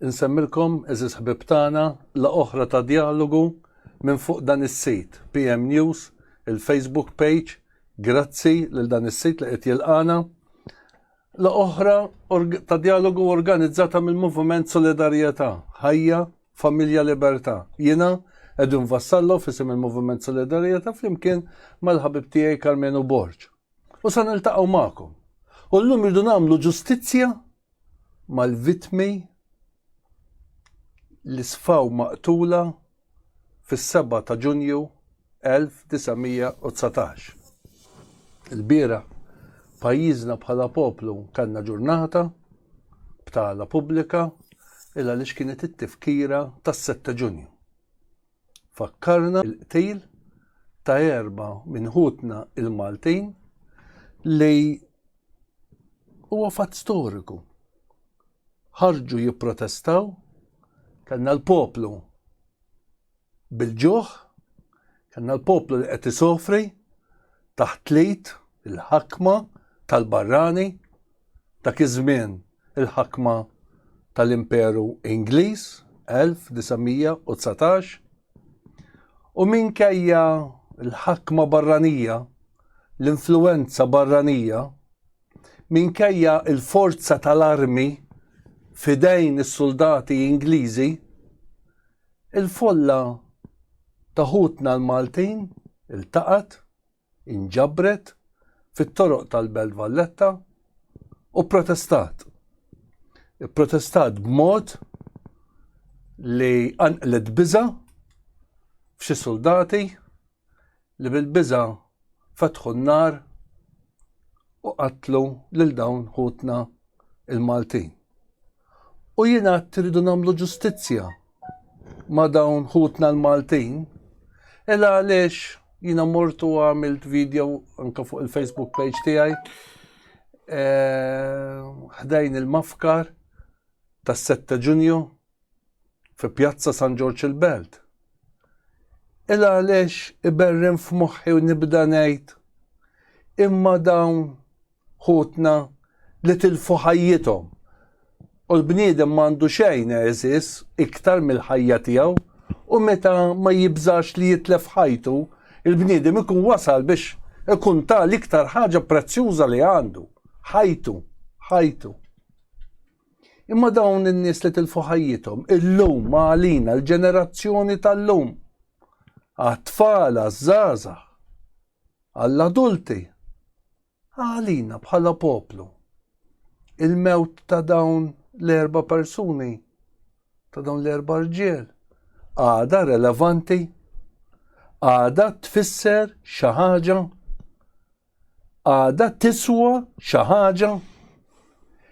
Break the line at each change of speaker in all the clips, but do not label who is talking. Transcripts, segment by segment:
Insemmilkom, eżiż ħbib tagħna, la oħra ta' djalogu minn fuq dan is-sit, PM News, il-Facebook page, grazzi lil dan is-sit li qed jilqana. La oħra ta' djalogu organizzata mill-Moviment Solidarjetà, Ħajja, Familja Libertà. Jiena Edwin Vassallo fisim il-Moviment Solidarjetà flimkien mal-ħabib tiegħi Karmenu Borġ. U sa niltaqgħu magħkom. U llum irdu nagħmlu ġustizzja mal-vitmi li sfaw maqtula fis-7 ta' Ġunju 1919. Il-bira pajjiżna bħala poplu kanna ġurnata b'tala pubblika illa li kienet it-tifkira tas-7 Ġunju. Fakkarna l-qtil ta' erba' minn ħutna l-Maltin li huwa fatt storiku. Ħarġu jipprotestaw, kellna l-poplu bil-ġuħ, kellna l-poplu li qed isofri taħt l-id, il-ħakma tal-barrani, Dak iż-żmien il-ħakma tal-Imperu Ingliż, 1919, u minkejja l-ħakma barranija, l-influwenza barranija, minkejja l-forza tal-armi f'idejn is-suldati Ingliżi, il-folla ta' ħutna l-Maltin iltaqgħet, inġabret fit-toroq tal-Belt Valletta u protestat. Protestat b'mod li anqlet biża f'xi soldati li bil-biża fetħu n-nar u qatlu lil dawn ħutna il-Maltin. U jien għadt irridu nagħmlu ġustizzja ma' dawn ħutna l-Maltin, ela għaliex jiena mort u għamilt video anke fuq il-Facebook page tiegħi eh, ħdejn il-mafkar tas-7 Ġunju fi Pjazza San Ġorġ il-Belt. Il għaliex iberrin f'moħħi u nibda ngħid imma dawn ħutna li tilfu ħajjithom. U l-bniedem m'għandu xejn għeżież iktar mill-ħajja tiegħu, u meta ma jibżax li jitlef ħajtu, il-bniedem ikun wasal biex ikun ta l-iktar ħaġa prezzjuża li għandu, ħajtu, ħajtu. Imma dawn in-nies li tilfu ħajjithom illum ma għalina l-ġenerazzjoni tal-lum. Għat-tfal, għaż-żgħażagħ, għall-adulti, għalina bħala poplu. Il-mewt ta' dawn l-erba' persuni, ta' dawn l-erba' rġiel, għada relevanti, għada tfisser xi ħaġa, għada tiswa xi ħaġa.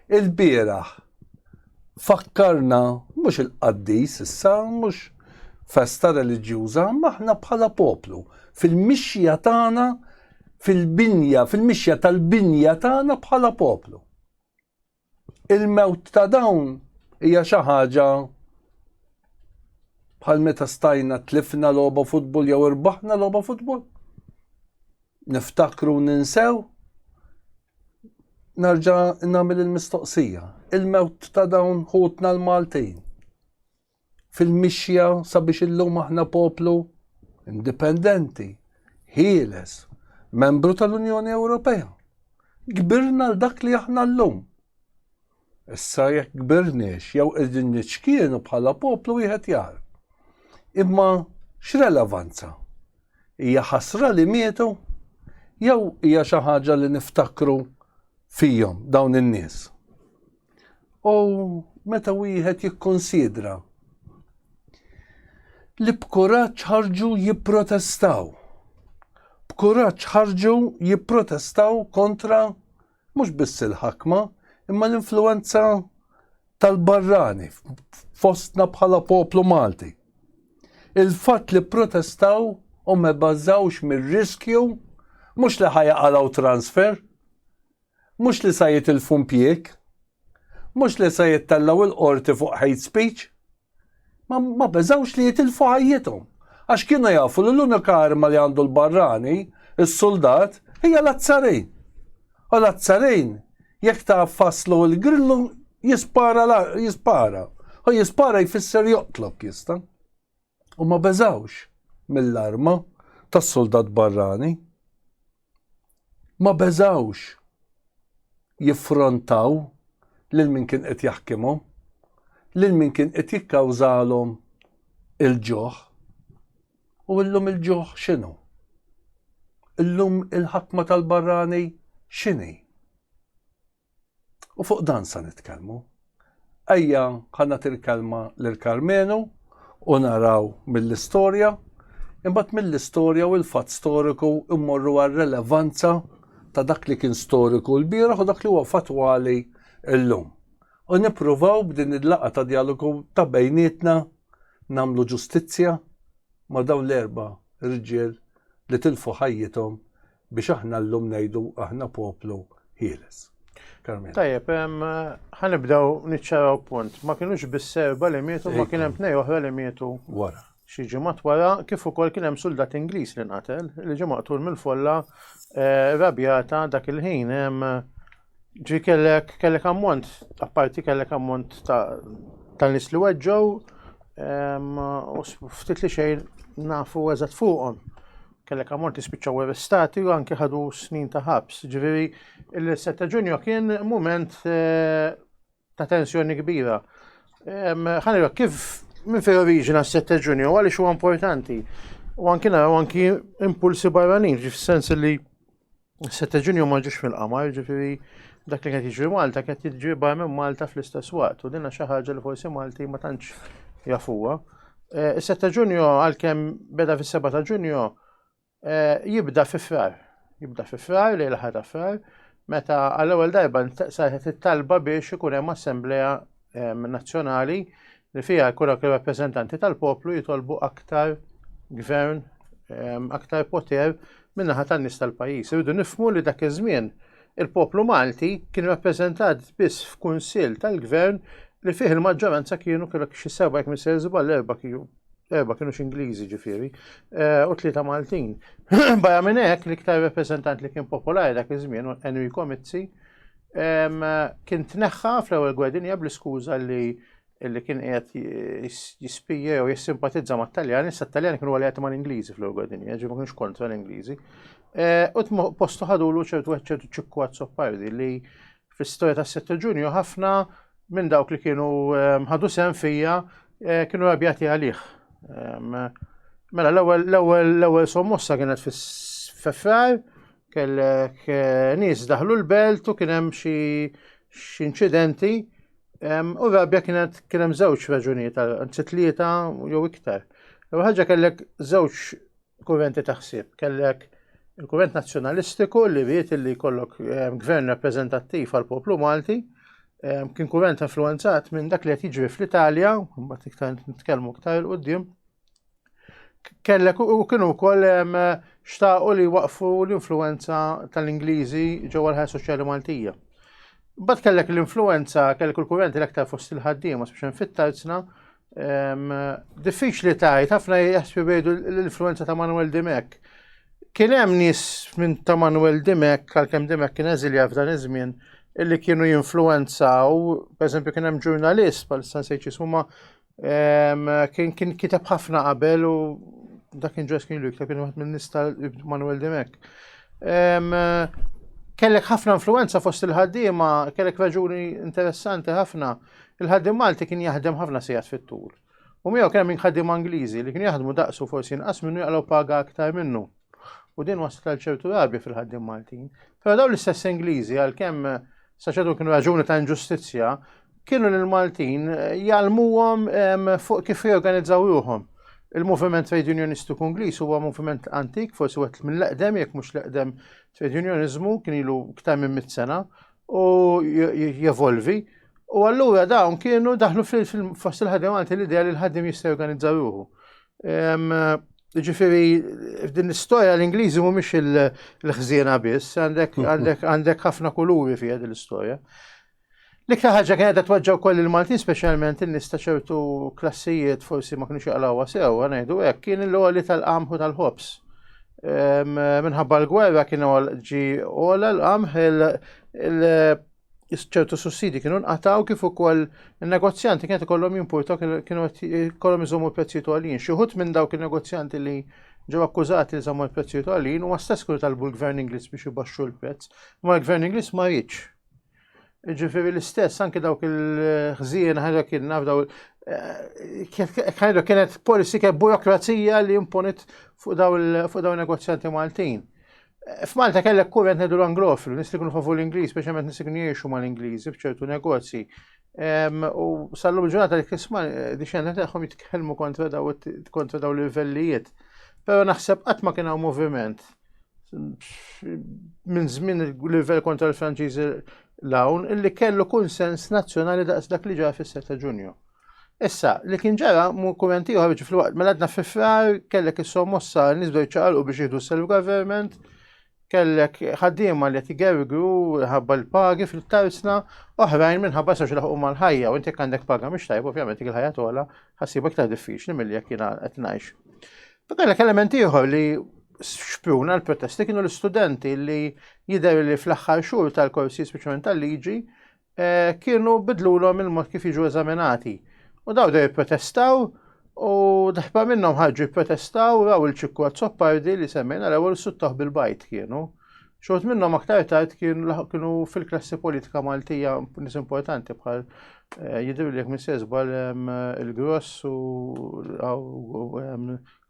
Il-bieraħ fakkarna mhux il-qaddis issa mhux festa reliġjuża, maħna bħala poplu fil-mixja tagħna fil-binja, fil-mixja tal-binja tagħna bħala poplu. Il-mewt ta' dawn hija xi ħaġa bħal meta stajna tlifna logħba futbol jew irbaħna logħba futbol. Niftakru ninsew Narġa' nagħmel il-mistoqsija. Il-mewt ta' dawn ħutna l-Maltin fil-mixja sabiex illum aħna poplu indipendenti, ħieles, membru tal-Unjoni Ewropea. Kbirna l-dak li aħna llum. Issa jekk kbirniex jew qegħdin niċkienu bħala poplu wieħed jar. Imma x'relevanza? Hija ħasra li mietu? Jew hija xi ħaġa li niftakru fihom dawn in-nies? U meta wieħed jikkonsidra li b'kuraġġ ħarġu jipprotestaw. B'kuraġġ ħarġu jipprotestaw kontra Mhux biss il-ħakma, imma l-influwenza tal-barrani fostna bħala poplu Malti. Il-fatt li protestaw u ma bażawx mir-riskju mhux li ħajaqalaw transfer, mhux li sa jitilfu mpjieg, mhux li sa jittellaw il-qorti fuq hate speech, ma beżawx li jitilfu ħajjithom. Għax kienu jafu li l-unika arma li għandu l-barrani, is-suldat, hija l-azzarin. U l-azzarin, jekk ta' faslu l-grillu, jispara, jispara. U jispara jfisser joqtlok jista. U ma beżawx mill-arma tas-suldat barrani. Ma beżgħux jiffrontaw lil min kien qed jaħkimhom, lil min kien qed jikkawżalhom il-ġuħ. U illum il-ġuħ x'inhu? Illum il-ħakma tal-barrani x'inhi? U fuq dan sa nitkellmu. Ejja ħanna til-kelma lil Karmenu u naraw mill-istorja, imbagħad mill-istorja u l-fatt storiku immorru għar-relevanza ta' dak li kien storiku l-bieraħ u dak li huwa fatwali llum. U nippruvaw b'din il-laqa ta' dialogu ta' bejnietna namlu ġustizzja ma' dawn l-erba' rġiel li tilfu ħajjithom biex aħna llum ngħidu aħna poplu ħieles. Carmela. Tajjeb,
ħanibdew niċċaraw punt. Ma kienux bis-serba li mietu, ma kien hemm tnej oħra li mietu. Wara. Xi
ġimgħat wara
kif ukoll kien hemm suldat Ingliż li nqatel li ġie maqtul mill-folla eh, rabjata dak il-ħin hemm Ġi kellek kellek ammont, apparti kellek ammont ta' tal-nis li weġġow, u ftit li xejn nafu eżat fuqhom. Kellek ammont li spiċċaw arrestati u anke ħadu snin ta' ħabs. Ġifieri il-7 ta' Ġunju kien mument eh, ta' tensjoni kbira. Ħanira, kif minn fejn oriġina s-sette ġunju, għaliex huwa importanti. U anki naraw anki impulsi barranin, ġif sens li s-sette ġunju ma ġiex fil-qamar, ġifiri dak li qed jiġri Malta qed jiġri barra minn Malta fl-istess waqt. U dinna xi ħaġa li forsi Malti ma tantx jafuha. Eh, is-sette ġunju għalkemm beda fis-seba ta' ġunju, Eh, jibda fi frar, jibda fi frar, lejl ħar ta' frar, meta għall-ewwel darba saħet it-talba biex ikun hemm assemblea nazzjonali li fiha jkun hawn rappreżentanti tal-poplu jitolbu aktar gvern, aktar poter min-naħa tan-nies tal-pajjiż. Irridu nifmu li dak iż-żmien il-poplu Malti kien rappreżentat biss f'kunsill tal-gvern li fih il-maġġoranza kienu kellek xi seba' jekk misser żball erba' kienu Erba kienu x'Ingliżi ġifieri, eh, u tlieta Maltin. Baja minn hekk l-iktar rappreżentant li kien popolari dak iż-żmien u Enrico Mizzi kien tneħħa fl-ewwel gwedinja bl-iskuża li li kien qiegħed jispija jew jissimpatizza ma' Taljan, issa Taljan kienu għal qed mal-Ingliżi fl-ewwel gwedinja, ġibu kienx kontra l-Ingliżi. Eh, u postu ħadulu ċertu ċertu ċikku għad li fl-istoria ta' 6 ġunju ħafna minn dawk li kienu ehm, ħadu sem fija eh, kienu rabjati għalih. Ehm, mela l-ewwel sommossa kienet fis-fefrar, kellek eh, nies daħlu l-belt u kien hemm xi inċidenti ehm, u rabja kienet kien hemm żewġ raġunijiet, anzi tlieta jew iktar. L-ewwel ħaġa kellek żewġ Kurrenti ta' ħsieb. Kellek il-kurrent nazzjonalistiku li ried li jkollok ehm, gvern rappreżentattiv għal poplu Malti, ehm, kien kurrent influenzat minn dak li qed jiġri fl-Italja, mbagħad iktar nitkellmu iktar il-qudiem. Kellek u kienu wkoll ehm, xtaqu li waqfu l-influenza tal-Ingliżi ġewwa l-ħajja soċjali Maltija. Bad kellek l-influenza, kellek il-kurrenti l-aktar fost il-ħaddiema, speċjalment fit-tarzna, Diffiċli tajt, ħafna jaħsbu bejdu l-influenza ta' Manuel Dimek. Kien hemm nies minn ta' Manuel Dimek, għalkemm Dimek kien eżilja f'dan iż-żmien, illi kienu jinfluenzaw, per eżempju kien hemm ġurnalist bħal San Sejċis huma kien kien kiteb ħafna qabel u dak kien ġes kien lu jikteb kien waħed minn nista Manuel Dimek. Kellek ħafna influenza fost il-ħaddiema, kellek raġuni interessanti ħafna. Il-ħaddiem Malti kien jaħdem ħafna sigħat fit-tul. U miegħu kien hemm ħaddiema Ingliżi li kienu jaħdmu daqsu forsi inqas minnu jaqlaw paga aktar minnu. U din waslet għal ċertu rabja fil-ħaddiem Maltin. Però dawn l-istess Ingliżi għalkemm saċetu kienu raġuni ta' inġustizzja, kienu l-Maltin eh, jgħalmuhom ehm, fuq kif jorganizzaw ruhom. Il-moviment trade unionistu Ingliż huwa moviment antik, forsi wet mill-eqdem, jekk mhux l-eqdem trade unionizmu, kien ilu ktar minn mit sena, u jevolvi. U allura dawn kienu daħlu fil-fost il-ħaddim għanti l-idea li l-ħaddim jista' jorganizza ruħu. Ġifiri, f'din l-istoria l-Ingliżi mhumiex il-ħżiena biss, għandek ħafna kuluri fija din l-istoria. L-iktar ħaġa kienet qed tweġġa' wkoll il-Maltin speċjalment in-nies ta' ċertu klassijiet forsi ma kienux jaqlawha sew, ngħidu hekk, kien il-għoli tal-qamħu tal-ħobż. minħabba l-gwerra kienu ġi għola l-qamħ ċertu sussidi kienu nqataw kif ukoll il-negozjanti kienet ikollhom jimportaw kienu ikollhom iżommu prezzijiet għalin. Xi ħut minn dawk il-negozjanti li ġew akkużati li żommu l-prezzijiet għalin u stess kienu talbu l-Gvern Ingliż biex ibaxxu l-prezz, ma l-Gvern Ingliż ma jitx. Ġifiri l-istess, anke dawk il-ħżien ħajra kien naf daw ħajra eh, kienet policy kien burokrazija li imponit fuq daw il-negozjanti Maltin. Eh, F'Malta kellek kurrent nedu l-Anglofil, nis li kunu favu l-Ingliż, speċjalment nis li kunu jiexu ma l-Ingliżi f'ċertu negozji. U sallum ġurnata li kisma eh, diċenna teħħom jitkellmu kontra daw l-livellijiet. Pero naħseb qatt ma kien hawn moviment minn żmien il-livell kontra l-Franċiżi l-hawn illi kellu kunsens nazzjonali daqs dak li ġara fis ta' Ġunju. Issa, li kien ġara mu kumenti ieħor ġifri waqt mela għadna fi frar kellek is-sommossa nies bdew ċaqalqu biex jieħdu self-government, kellek ħaddiema li qed igergru ħabba l-pagi fil-tarsna, oħrajn minħabba sax laħqu mal-ħajja u inti għandek paga mhix tajba ovvjament il-ħajja tola ħassibek ta' diffiċli milli jekk jiena qed ngħix. Kellek element ieħor li xpruna l-protesti kienu l-istudenti li jidher li fl-aħħar xhur tal-korsi speċjalment tal-liġi eh, kienu bidlulhom il-mod kif jiġu eżaminati. U daw dej protestaw u daħba minnhom ħarġu protestaw raw il-ċikku Zoppardi li semmejna l-ewwel suttaħ bil-bajt kienu. Xort minnhom aktar tard kienu fil-klassi politika Maltija nis importanti bħal eh, jidru li minn sezbal il-Gross u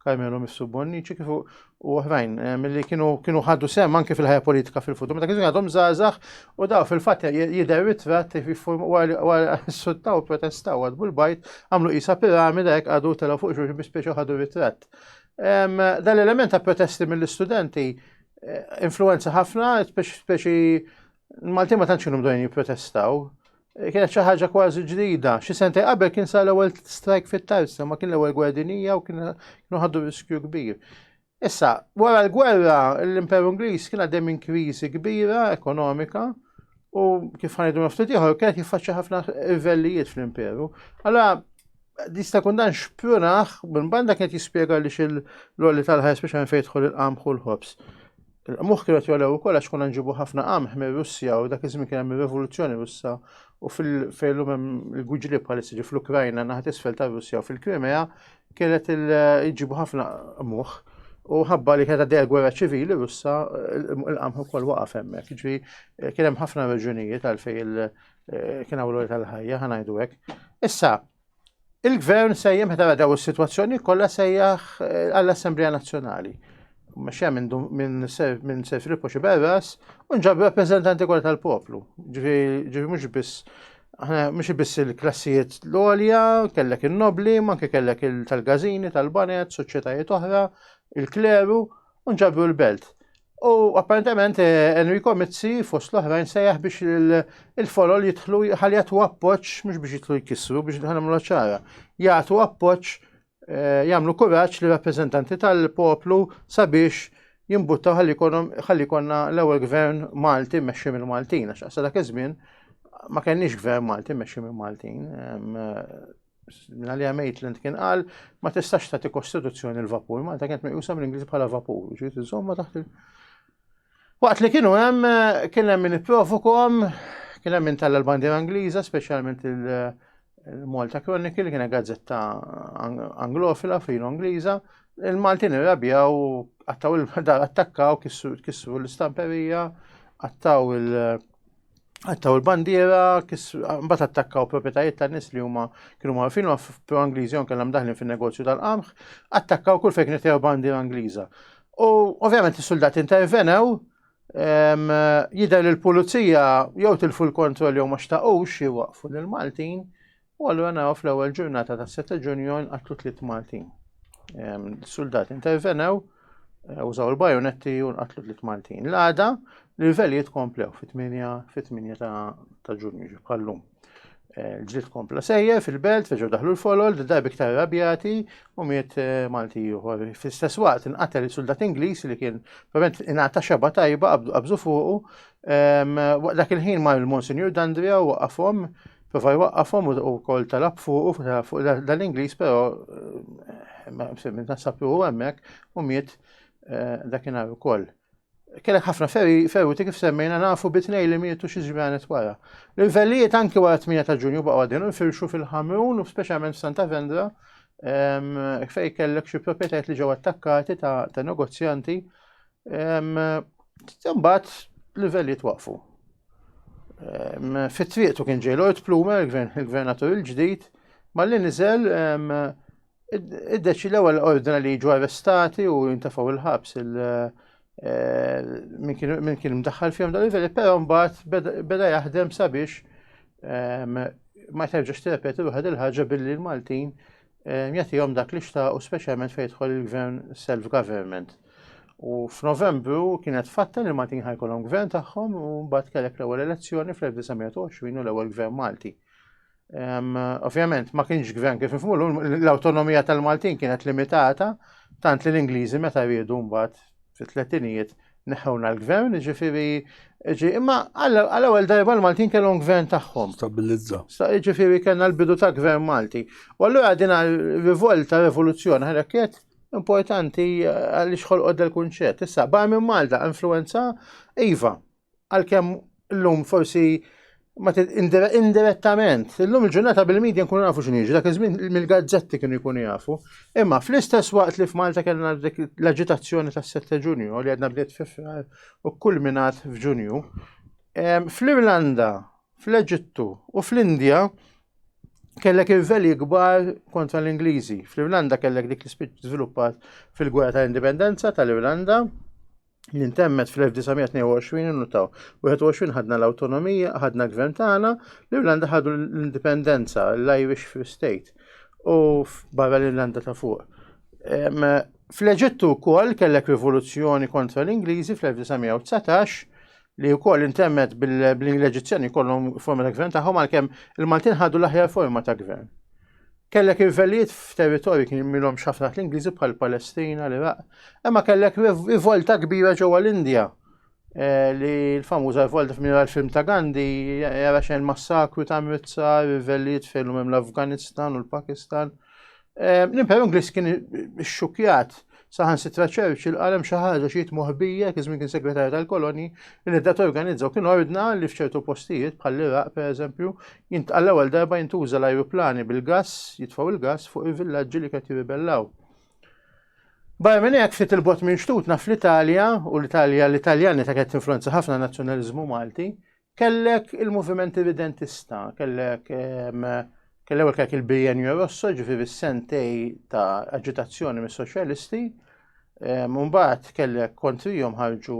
Carmelo Missu Bonnici kifu u oħrajn mill-li kienu ħaddu sem anke fil-ħajja politika fil-futur. Meta kienu għadhom zazax u daw fil-fatt jidher ritrat wara suttaw protestaw għadbu l-bajt għamlu isa piramida jek għadu telaw fuq xurx bispiex ħadu ritrat. Dan l-element ta' protesti mill-istudenti influenza ħafna, speċi Maltin ma tantx kienu mdojn jipprotestaw. Eh, kienet xi ħaġa kważi ġdida. Xi sentej qabel kien sa l-ewwel strike fit-tarsa, ma kien l-ewwel gwardinija u kienu ħaddu riskju kbir. Issa, wara l-gwerra, l-Imperu Ingliż kien għaddej minn kriżi kbira ekonomika u kif ħanidu naftit ieħor kienet jiffaċċja ħafna rivellijiet fl-Imperu. Allora, jista' jkun dan xprunaħ minn banda kien jispjega li xil lolli tal-ħajja speċjalment fejn jidħol il-qamħ u l-ħobż. Il-qmuħ kienu jolew ukoll għax kuna nġibu ħafna qamħ minn Russja u dak iż-żmien kien hemm ir-Revoluzzjoni Russa u fil-fejn hemm il-guġli bħalissa ġi fl-Ukrajna naħat isfel ta' Russja u fil-Krimea kienet il-ġibu ħafna qmuħ u ħabba li kienet għaddej gwerra ċivili Russa il-qamħ ukoll waqaf hemmhekk. Ġifi kien hemm ħafna raġunijiet għalfejn Eh, kien għawlu tal-ħajja, ħanajdu hekk. Issa, il-gvern sejjem ħetara daw is-sitwazzjoni kollha sejjaħ eh, għall-Assemblea Nazzjonali. Mexja minn Sir Filippo Xiberras u nġab rappreżentanti kollha tal-poplu. Ġifi mhux biss mhux biss il-klassijiet l-olja, kellek in-nobli, manke kellek il-tal-gazini, tal-banet, soċjetajiet oħra, il-kleru, u nġabru l-belt. U apparentement eh, Enrico Mizzi fost l-oħrajn sejjaħ biex il-folol jitħlu ħalli jagħtu appoġġ mhux biex jitħlu jkissru biex nħanamlu ċara. Jagħtu appoġġ eh, jagħmlu kuraġġ li rappreżentanti tal-poplu sabiex jimbutta ħalli konna l-ewwel gvern Malti mexxi mill-Maltin għax dak iż-żmien ma kenniex gvern Malti mexxi mill-Maltin. minna li Maitland kien qal ma tistax tagħti kostituzzjoni l-vapur, Malta kienet meqjusa mill-Ingliż bħala vapur, ġiet iżomma taħt il- Waqt li kienu hemm kien hemm min ipprovokom, kien hemm min talla l-bandiera Ingliża, speċjalment il-Malta Chronicle, kien gazzetta anglofila filo Ingliża, il-Maltin irrabjaw, għattaw il-dar attakkaw, kissru l-istamperija, għattaw il- Għattaw il-bandiera, mbagħad attakkaw proprjetajiet ta' nies li huma kienu marfin ma' pro Angliżi on kellhom daħlin fin-negozju tal-qamħ, attakkaw kull fejn kienet bandiera Angliża. U ovvjament is-suldati intervenew jidher li l-pulizija jew tilfu l-kontroll jew ma xtaqux jwaqfu lill-Maltin U allura naraw fl-ewwel ġurnata ta' 7 Ġunju nqatlu tliet Maltin. Soldati intervenew, eh, użaw il-bajonetti u nqatlu tliet Maltin. L-għada l-livelli jitkomplew fit-8 ta' Ġunju ġibħallum. Eh, Ġlit kompla sejje fil-belt, feġu daħlu l-folol, d-daj biktar rabjati u miet eh, Malti juħor. Fil-stess waqt inqatel il-soldat Ingliż li kien probablement inata xeba tajba qabżu fuqu. Dak il-ħin mar il-Monsinjur Dandria u waqafhom Prova jwaqqafhom u wkoll talab fuq fuq dal-Ingliż però msemmi nasab li huwa hemmhekk u miet eh, dakinhar ukoll. Kellek ħafna ferruti kif semmejna nafu bitnej li mietu xi ġranet wara. L-vellijiet anki wara 8 ta' Ġunju baqgħu għadin u firxu fil-Ħamrun u speċjalment Santa Vendra fej kellek xi proprjetajiet li ġew attakkati ta' negozjanti Imbagħad livell jitwaqfu. Fit-triqtu kien ġej Lloyd Plumer, il-gvernatur il-ġdid, malli niżel id-deċi l-ewwel ordna li jiġu arrestati u jintefgħu il-ħabs il eh, min kien mdaħħal fihom dal livelli, però mbagħad beda jaħdem sabiex ma terġax tirrepeti ruħed il-ħaġa billi l-Maltin Ehm, jagħtihom dak li xtaqu speċjalment fejn jidħol il-gvern self-government. U f'Novembru kienet fatta li Maltin ħajkolhom gvern tagħhom u mbagħad kellek l-ewwel elezzjoni fl-1920 u l-ewwel gvern Malti. Ehm, ovvjament ma kienx gvern kif nifhmulu l-awtonomija tal-Maltin kienet limitata tant li l-Ingliżi meta riedu mbagħad fit-tletinijiet neħħewna l-gvern, ġifiri, ġi, imma għal-ewel darba l-Maltin kellhom gvern tagħhom. Stabilizza.
Ġifiri kellna
l-bidu ta' gvern Malti. U allura din rivolta, rivoluzzjoni, ħarekket importanti eh, għaliex ħolqod del kunċett Issa, bar minn Malta, influenza, iva, għal-kem Illum forsi ma indirettament, illum il-ġurnata bil-medja nkunu nafu x'inhi, dak iż-żmien mill-gazzetti kienu jkunu jafu. Imma fl-istess waqt li f'Malta kellna l-aġitazzjoni tas-7 Ġunju li għadna bdiet f'Frar u kulminat f'Ġunju, fl-Irlanda, fl-Eġittu u fl-Indja kellek irveli kbar kontra l-Ingliżi. Fl-Irlanda kellek dik li żviluppat fil-gwerra tal-indipendenza tal-Irlanda li ntemmet fl-1922 nutaw. 21 ħadna l-autonomija, ħadna gvern tagħna, l-Irlanda ħadu l-indipendenza, l-Irish Free State, u barra l-Irlanda ta' fuq. Fl-Eġittu wkoll kellek rivoluzzjoni kontra l-Ingliżi fl-1919, li wkoll intemmet bl-Eġizzjani kollhom forma ta' gvern tagħhom għalkemm il-Maltin ħadu l-aħjar forma ta' gvern. Kellek irvellijiet f'territorji kien jimilhom xafna l-Ingliżi bħal Palestina, l-Iraq, imma kellek rivolta kbira ġewwa l-Indja eh, li l-famuża rivolta f'mira l-film ta' Gandhi jara xejn massakru ta' Amritsar, rivellijiet fejn hemm l-Afganistan u l-Pakistan. Ehm, L-Imperu Ingliż kien xxukjat saħan sitra Churchill għalem xi ħaġa xi moħbija kif kien segretarju tal-koloni li dat organizzaw kien ordna li f'ċertu postijiet bħall-Iraq pereżempju jintqalla ewwel darba jintuża l-ajruplani bil-gass jitfgħu il-gass fuq il-villaġġi li qed jirribellaw. Barra minn hekk ftit il-bot minn xtut naf l-Italja u l-Italja l-Italjani ta' qed influenza ħafna nazzjonaliżmu Malti Kellek il-moviment evidentista, kellek kellew kellek il-bienju rosso ġifiri sentej ta' agitazzjoni mis soċjalisti Mumbat kellek kontrijom ħarġu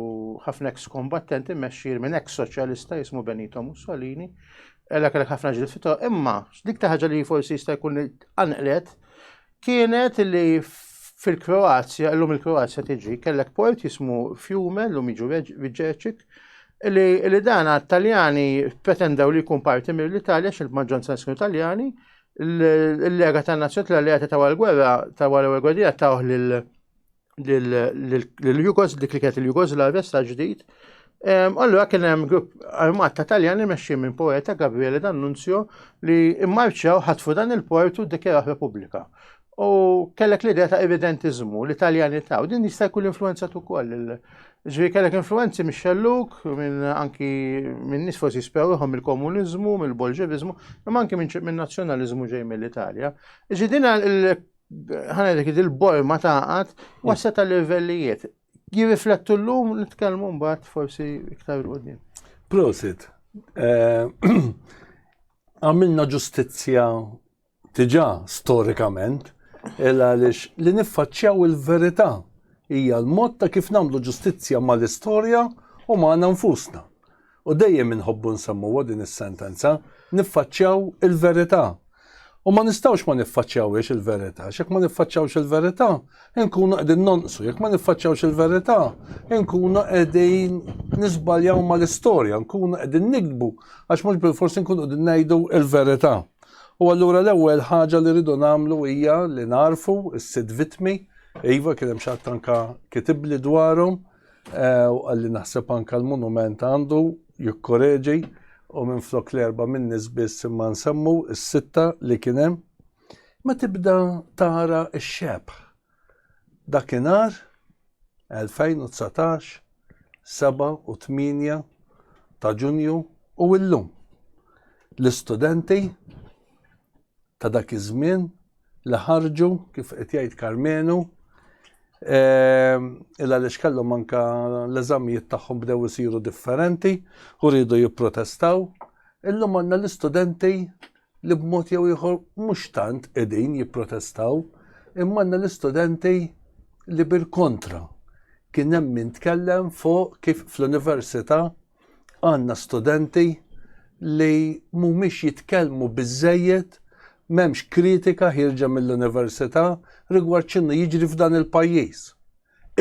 ħafna ex kombattenti meċċir minn ex soċjalista jismu Benito Mussolini, ella kellek ħafna ġil fito, imma dik ta' ħaġa li forsi jista' jkun anqlet kienet li fil-Kroazja, l-lum il-Kroazja tiġi, kellek port jismu Fiume, l-lum iġu Viġeċik, li dan għat-Taljani pretendaw li jkun parti mill-Italja xil maġġoranza nisku Taljani, l-lega ta' nazzjoni tal-alleati ta' għal-gwerra ta' għal-gwerra ta' uħ l-Jugos, dik li kienet il-Jugoslavja sa ġdid. Allura kien hemm grupp armat ta' Taljani mexxi minn poeta Gabriele D'Annunzio li immarċjaw ħatfu dan il-port u dikjaraħ Repubblika. U kellek l-idea ta' evidentizmu li Taljani ta' u din jista' jkun influenza tu koll. Ġri kellek influenzi minn xelluk, minn anki minn nis forsi spewruħom mill-komunizmu, mill-bolġevizmu, imma anki minn nazzjonalizmu ġej mill-Italja. Ġi din ħanedek il-borma taqat mm. wassa ta' livellijiet. Jirriflettu l-lum nitkellmu mbagħad forsi iktar l-qudiem. Prosit,
eh, għamilna ġustizzja tiġa storikament, illa għaliex li niffaċċjaw il-verità hija l-mod ta' kif nagħmlu ġustizzja mal-istorja u magħna nfusna. u dejjem inħobbu nsemmuha din is-sentenza, niffaċċjaw il-verità. U ma nistgħux ma niffaċċjawhiex il-verità, għax jekk ma niffaċċjawx il-verità, inkunu qegħdin nonqsu, jekk ma niffaċċjawx il-verità, inkunu qegħdin nisbaljaw mal-istorja, nkunu qegħdin nikdbu, għax mhux bil-forsi nkunu qegħdin ngħidu il-verità. U allura l-ewwel ħaġa li rridu nagħmlu hija li narfu s-sitt vittmi, iva kien hemm xi ħadd anka kitibli dwarhom, u qal li naħseb anke l-munument għandu jikkoreġi u minflok l-erba' min-nies biss imma nsemmu s-sitta li kien hemm. Ma tibda tara x-xebħ dakinhar 2019, 7 u 8 ta' Ġunju u illum. L-istudenti ta' dak iż-żmien li ħarġu kif qed jgħid Karmenu ehm, illa għaliex kellhom anka l-eżamijiet tagħhom bdew isiru differenti u rridu jipprotestaw. Illum għandna l-istudenti li b'mod jew ieħor mhux tant qegħdin jipprotestaw, imma għandna l-istudenti li bil-kontra kien hemm min tkellem fuq kif fl-università Għandna studenti li mhumiex jitkellmu biżżejjed, m'hemmx kritika ħierġa mill-università rigward x'inhu jiġri f'dan il-pajjiż.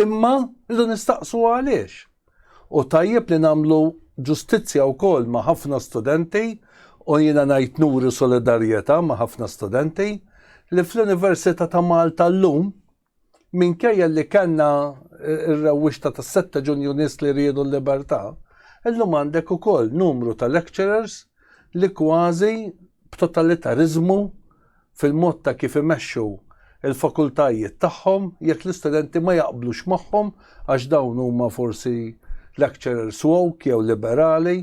Imma rridu nistaqsu għaliex. U tajjeb li nagħmlu ġustizzja wkoll ma' ħafna studenti u jiena ngħid nuri solidarjetà ma' ħafna studenti li fl-Università ta' Malta llum Minkejja li kellna r-rewwixta tas-setta Ġunju nies li riedu l-libertà, illum għandek ukoll numru ta' lecturers li kważi b'totalitariżmu fil-mod ta' kif imexxu l-fakultajiet tagħhom jekk l-istudenti ma jaqblux magħhom għax dawn huma forsi lecturers woke jew liberali,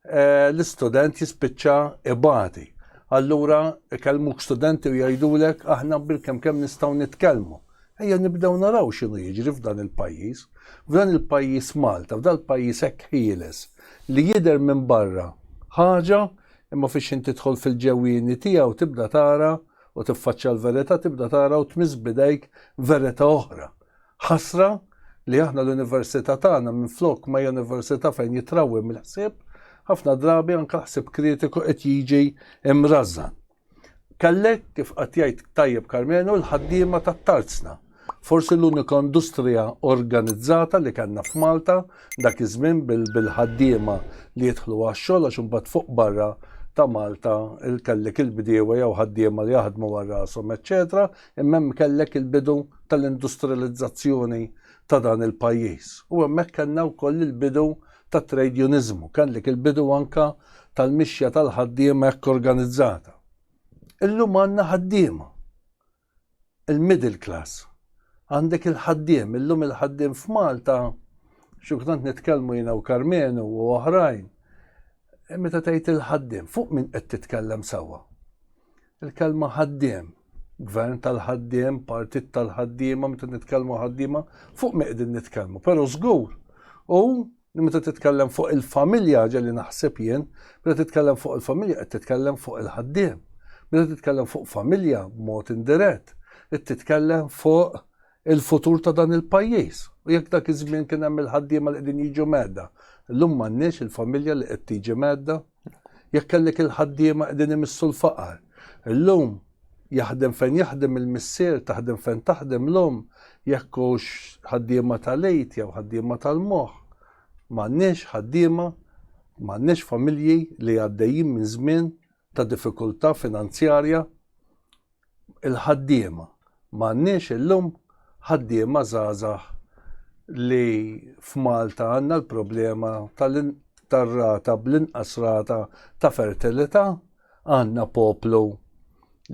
eh, l-istudent jispiċċa ibati. Allura ikellmuk studenti u jgħidulek aħna bil-kemm kemm nistgħu nitkellmu. Ejja nibdew naraw x'inhu jiġri f'dan il-pajjiż. F'dan il-pajjiż Malta, f'dan il-pajjiż hekk ħieles li jidher minn barra ħaġa imma fiex inti tidħol fil-ġewwieni tiegħu tibda tara u tiffaċċja l-verità tibda tara u tmiss bidejk verità oħra. Ħasra li aħna l-università tagħna minflok ma hija università fejn jitrawwem il-ħsieb, ħafna drabi anke l-ħsieb kritiku qed jiġi mrażżan. Kellek, kif qatt jgħid tajjeb Karmenu, l-ħaddiema tat-tarzna. Forsi l-unika industrija organizzata li kellna f'Malta dak iż-żmien bil-ħaddiema li jidħlu għax-xogħol għax imbagħad fuq barra ta' Malta il-kellek il-bdiewa jew ħaddiema li jaħdmu għal rashom, eċċetera, Imma hemm kellek il-bidu tal-industrializzazzjoni ta' dan il-pajjiż u hemmhekk kellna wkoll il-bidu tat-trejdjuniżmu, kellek il-bidu anke tal-mixja tal-ħaddiema hekk organizzata. Illum għandna ħaddiema, il-middle class, għandek il-ħaddiem, illum il-ħaddiem f'Malta, xi kultant nitkellmu jiena u Karmenu u oħrajn, meta tgħid il-ħaddiem, fuq min qed titkellem sewwa? Il-kelma ħaddiem, gvern tal-ħaddiem, partit tal-ħaddiema, meta nitkellmu ħaddiema, fuq min qegħdin nitkellmu? Però żgur hu li meta titkellem fuq il-familja ħaġa li naħseb jien, meta titkellem fuq il-familja qed titkellem fuq il-ħaddiem. Meta titkellem fuq familja b'mod indirett, qed titkellem fuq il-futur ta' dan il-pajjiż. U jekk dak iż-żmien kien hemm il-ħaddiema li qegħdin jiġu mgħedda, illum m'għandniex il-familja li qed tiġi mgħedda. Jekk kellek il-ħaddiema qegħdin imissu l-faqar, illum jaħdem fejn jaħdem il-missier, taħdem fejn taħdem l-om, jekk hux ħaddiema tal-għid jew ħaddiema tal-moħħ. M'għandniex ħaddiema, m'għandniex familji li għaddejjin minn żmien ta' diffikultà finanzjarja il-ħaddiema. M'għandniex illum ħaddiema żgħażagħ li f'Malta għandna l-problema tar-rata bl-inqas rata ta' fertilità, għandna poplu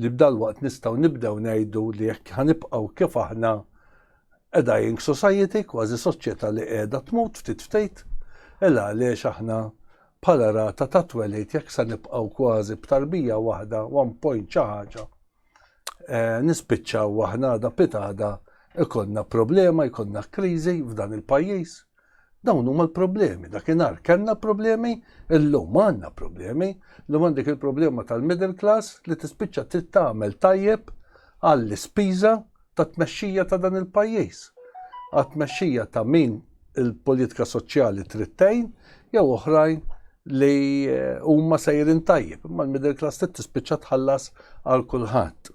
li b'dalwaqt nistgħu nibdew ngħidu li jekk ħanibqgħu kif aħna a dying society, kważi soċjetà li qiegħda tmut ftit ftit, ela għaliex aħna bħala rata ta' twelid jekk se nibqgħu kważi b'tarbija waħda, one point xi ħaġa, nispiċċaw aħna għada pitada ikollna problema, jkollna kriżi f'dan il-pajjiż. Dawn huma l-problemi. Dakinhar kellna problemi, illum għandna problemi, li għandek il-problema tal-middle class li tispiċċa trid tagħmel tajjeb għall-ispiża tat-tmexxija ta' dan il-pajjiż, għat-tmexxija ta' min il-politika soċjali trid tgħin jew oħrajn li huma sejrin tajjeb, imma l-middle class trid tispiċċa tħallas għal kulħadd.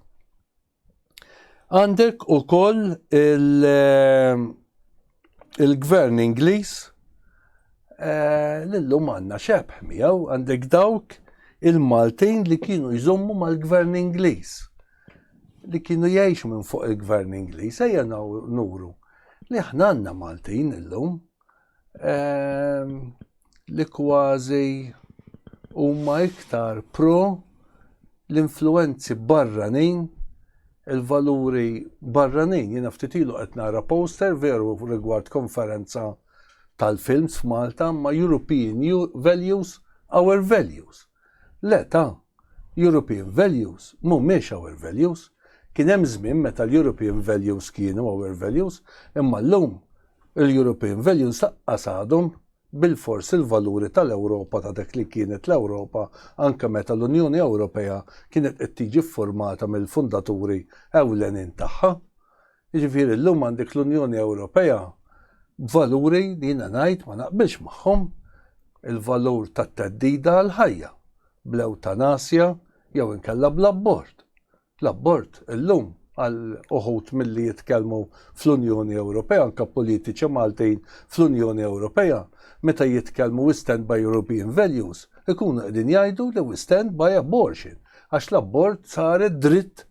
Għandek ukoll il- il-Gvern Ingliż eh, l-lum għandna xebħ miegħu għandek dawk il-Maltin li kienu jżommu mal-Gvern Ingliż li kienu jgħixu minn fuq il-Gvern Ingliż ejja nuru li aħna għandna Maltin illum. Ehm, li kważi huma iktar pro l-influenzi barranin il-valuri barranin. Jiena ftit ilu qed nara poster veru rigward konferenza tal-films f'Malta ma' European Values, Our Values. Le ta', European values mhumiex our values. Kien hemm żmien meta l-European values kienu our values, imma llum il-European values laqqas għadhom bilfors il-valuri tal-Ewropa ta' dak li kienet l-Ewropa anke meta l-Unjoni Ewropea kienet qed tiġi ffurmata mill-fundaturi ewlenin tagħha. Jiġifieri llum għandek l-Unjoni Ewropea b'valuri li jiena ngħid ma naqbilx magħhom, il-valur tat-theddida għall-ħajja, bl-ewtanasja jew inkella bl-abort. L-abort illum għal uħud milli jitkellmu fl-Unjoni Ewropea, anke politiċi Maltin fl-Unjoni Ewropea, meta jitkellmu we stand by European values, ikunu qegħdin jgħidu li we stand by abortion, għax l-abort sar id-dritt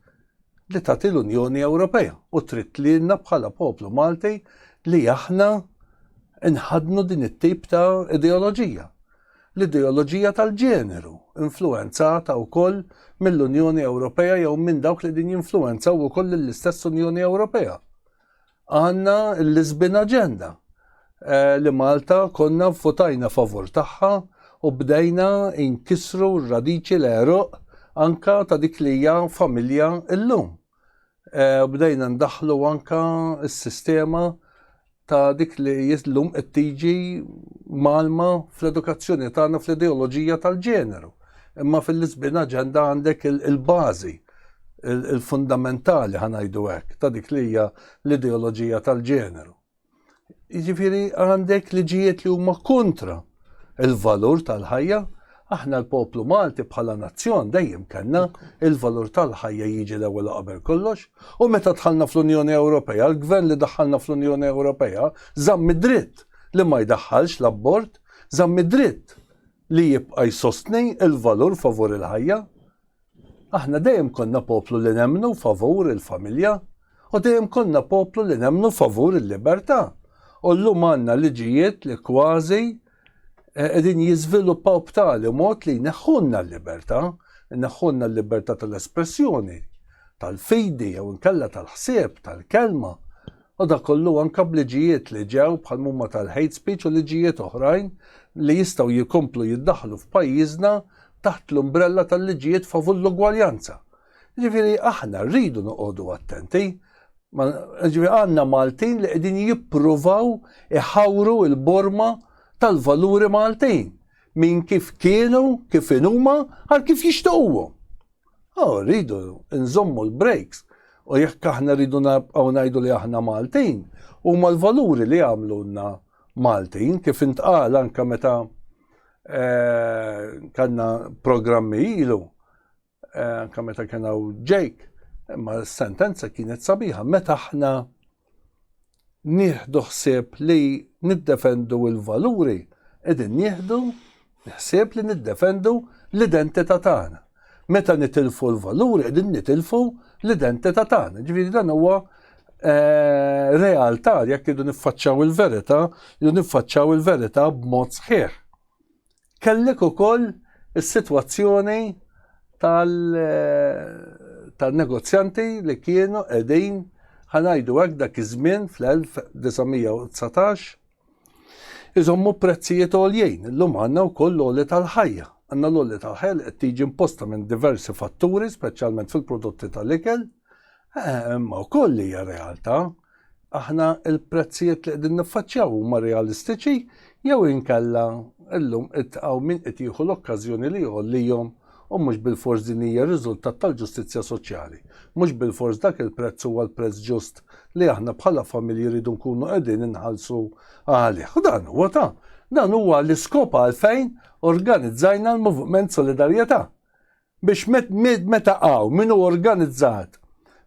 li tagħti l-Unjoni Ewropea u trid lilna bħala poplu Malti li aħna nħadnu din it-tip ta' ideoloġija. L-ideoloġija tal-ġeneru, influenzata wkoll mill-Unjoni Ewropea jew minn dawk li din jinfluenzaw ukoll lill-istess Unjoni Ewropea. Għandna l-Lisbon Agenda li Malta konna votajna favur tagħha u bdejna inkisru r-radiċi l-għeruq anka ta' dik li hija familja illum. Bdejna ndaħlu anka s-sistema ta' dik li llum qed tiġi malma fl-edukazzjoni tagħna fl-ideoloġija tal-ġeneru. Imma fil-Lisbon Agenda għandek il-bażi il-fundamentali ħanajdu hekk ta' dik li hija l-ideoloġija tal-ġeneru. Jiġifieri għandek liġijiet li huma kontra il-valur tal-ħajja, aħna l-poplu Malti bħala nazzjon dejjem kellna il-valur tal-ħajja jiġi l-ewwel qabel kollox, u meta dħalna fl-Unjoni Ewropea, l-gvern li daħħalna fl-Unjoni Ewropea żamm id-dritt li ma jdaħħalx l-abbord, żamm id-dritt li jibqa' jsostni il-valur favur il-ħajja, Aħna dejjem konna poplu li nemmnu favur il-familja u dejjem konna poplu li nemmnu favur il-libertà. U llum għandna liġijiet li kważi eh, qegħdin jiżviluppaw b'tali mod li jneħħunna l-libertà, jneħħunna l-libertà tal-espressjoni, tal-fidi jew inkella tal-ħsieb, tal-kelma. Madankollu, anke b'liġijiet li ġew, bħal mhuma tal-hate speech u liġijiet oħrajn li jistgħu jkomplu jiddaħħlu f'pajjiżna taħt l-umbrella tal-liġijiet favur l-ugwaljanza. Jiġifieri aħna rridu noqogħdu attenti. Ma, jiġifieri għandna Maltin li qegħdin jippruvaw iħawru l-borma tal-valuri Maltin minn kif kienu, kif inhuma, għal kif jixtiequhom. Oh, rridu nżommu l-breaks. U jekk aħna rridu nabqgħu ngħidu li aħna Maltin, huma l-valuri li għamlunna Maltin, kif intqal anka meta eh, kanna programmi ilu, eh, anka meta kena u ġejk, imma s-sentenza kienet sabiħa, meta aħna nieħdu ħsieb li niddefendu l-valuri, qegħdin nieħdu ħsieb li niddefendu l-identità tagħna. Meta nitilfu l-valuri qegħdin nitilfu l-identità tagħna. Ġifieri dan huwa eh, realtà jekk idu niffaċċaw il-verità, idu niffaċċaw il-verità b'mod sħiħ. Kellek ukoll is-sitwazzjoni tal-negozjanti li kienu qegħdin ħanajdu hekk dak iż-żmien fl-1919 iżommu prezzijiet għoljin. Illum għandna wkoll l-għoli tal-ħajja. Għandna l-għoli tal-ħajja li qed tiġi imposta minn diversi fatturi, speċjalment fil-prodotti tal-ikel. Imma wkoll hija realtà. Aħna l-prezzijiet li qegħdin niffaċċjaw huma realistiċi jew inkella llum qed hawn min qed jieħu l-okkażjoni li jgħollihom u mhux bilfors din hija riżultat tal-ġustizzja soċjali. Mhux bilfors dak il-prezz huwa l-prezz ġust li aħna bħala familji rridu nkunu qegħdin inħallsu għalih. U dan huwa ta' dan huwa l-iskop għalfejn organizzajna l-Moviment Solidarjetà. Biex meta hawn min hu organizzat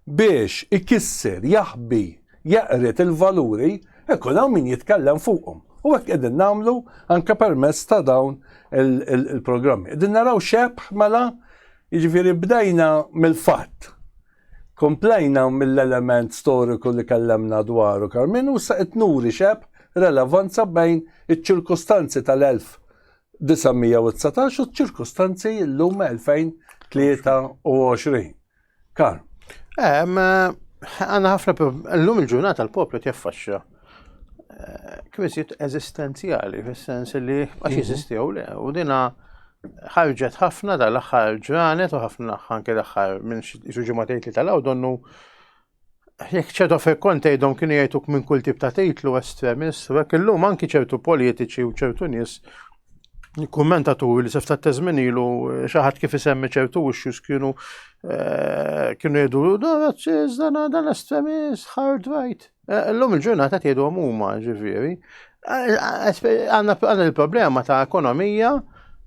biex ikisser, jaħbi, jeqred il-valuri, ikun hawn min jitkellem fuqhom. U hekk qegħdin nagħmlu anke permezz ta' dawn il-programmi. Qegħdin naraw xebħ mela jiġifieri bdejna mill-fatt. Komplejna mill-element storiku li kellemna dwaru Karmenu, issa qed nuri xebħ relevanza bejn iċ-ċirkustanzi tal-elf 919 u ċ-ċirkustanzi llum 2023. Kar. Ehm,
għanna ħafna llum il-ġurnata l-poplu tjaffaxxa eh, kif isit eżistenzjali fis-sens li għax mhm. jeżistew le u dina ħarġet ħafna dal-aħħar ġranet u ħafna ħanke l-aħħar minn xi ġimgħatejn li tal-għaw donnu Jekk ċertu affarijiet kont tgħidhom kienu jgħiduk minn kull tip ta' titlu estremist, u hekk illum anki ċertu politiċi u ċertu nies kummentaturi li sef ta' teżmin ilu eh, xaħat kif isemmi ċertu issues kienu eh, kienu jgħidu da razzis, dan dan estremist, hard right. Eh, illum il-ġurnata tgħidu huma ġifieri. Għanna il-problema ta' ekonomija,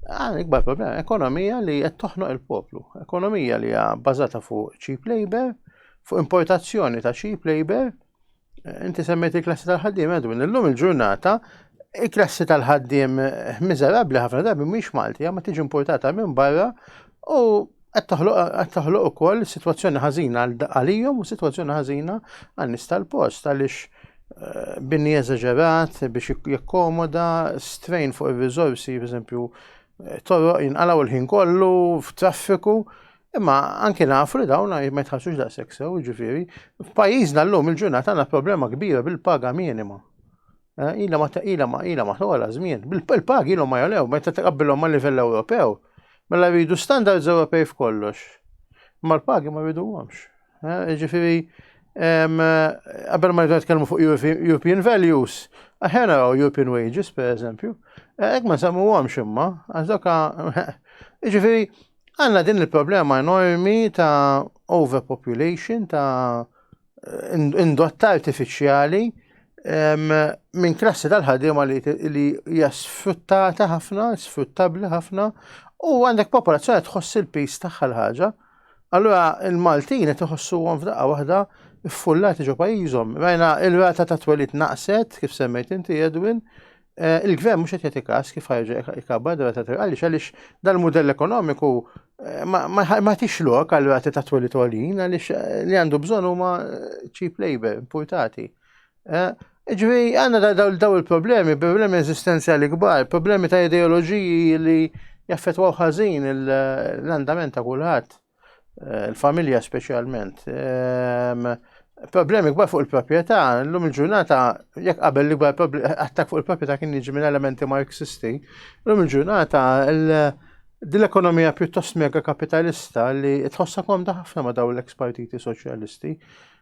għanna ikbar problema, ekonomija li qed toħnoq il-poplu, ekonomija li hija bbażata fuq cheap labor, fuq importazzjoni ta' cheap labor, eh, inti semmet il-klassi tal-ħaddim, għadu minn l-lum il-ġurnata, il-klassi tal-ħaddim eh, miżerabli ħafna darbi mhix Malti, ma tiġi importata minn barra u qed toħloq ukoll sitwazzjoni ħażina għalihom u sitwazzjoni ħażina għal nies tal-post għaliex eh, binni eżaġerat biex jakkomoda strain fuq ir-riżorsi, pereżempju eh, torroq jinqalgħu l-ħin kollu f'traffiku. Imma anke nafu li dawn ma jitħassux daqshekk sew, ġifieri, f'pajjiżna llum il-ġurnata għandna problema kbira bil-paga minima. Eh, ila ma ila ma ila ma tola żmien. Bil-pagi ilhom ma jolew meta taqabbilhom ma' livell Ewropew. Mela jridu standards Ewropej f'kollox. Ma l-pagi ma jriduhomx. Eh, ġifieri qabel ma jridu nitkellmu fuq European values, aħjar naraw European wages pereżempju. Eh, hekk ma nsemmuhomx imma, għax doka ġifieri għandna din il-problema enormi ta' overpopulation ta' indotta artifiċjali minn klassi tal-ħadima li hija sfruttata ħafna, sfruttabbli ħafna, u għandek popolazzjoni tħoss il-pis tagħha l-ħaġa. Allura il-Maltin qed iħossuhom f'daqqa waħda ffullati ġo pajjiżhom. Rajna il-rata ta' twelid naqset, kif semmejt inti Edwin, Eh, il-gvern mhux qed jagħti każ kif ħarġa ikabbar dwar ta' għaliex għaliex dal-mudell ekonomiku eh, ma tix lok għal rati ta' twelli tolin għaliex eh, li għandu bżonn huma cheap labor importati. Ġifieri għandna daw il-problemi, problemi eżistenzjali kbar, problemi ta' ideoloġiji li jaffetwaw ħażin l-andament ta' kulħadd. il-familja speċjalment. Ehm, problemi kbar fuq il-proprjetà, l-lum il-ġurnata, jekk qabel li kbar attak fuq il-proprjetà kien jiġi minn elementi marxisti, l-lum il-ġurnata din l-ekonomija pjuttost mega kapitalista li tħossa komda ħafna ma daw l-eks partiti soċjalisti,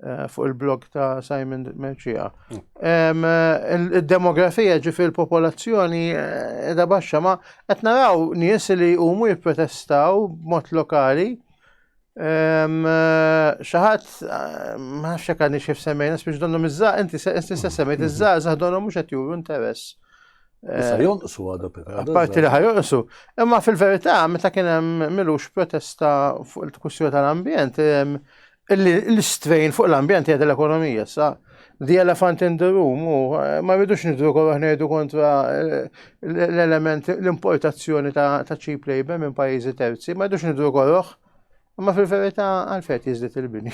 Eh, fuq il-blog ta' Simon Merċija. Mm. Il-demografija ġi fil-popolazzjoni eh, edha baxxa, ma qed naraw nies li huma jipprotestaw b'mod lokali. Eh, xaħat, ma xek għadni xif semmejna, spiex donnu mizza, inti stessa semmejt, iżza, mm-hmm. zaħdonu mux għet juru interess. Issa
jonqsu għadu pika. Parti li ħajonqsu.
Imma fil-verità, meta kien hemm milux protesta fuq il-tkussjoni tal-ambjent, L-istrejn fuq l-ambjent jgħid l-ekonomija sa the elephant in the room u eh, ma rridux nidru kol ngħidu kontra eh, l-element l-importazzjoni ta' cheap labor minn pajjiżi terzi, ma rridux nidru korroħ. Ma fil-verità għalfejn jiżdied il-bini.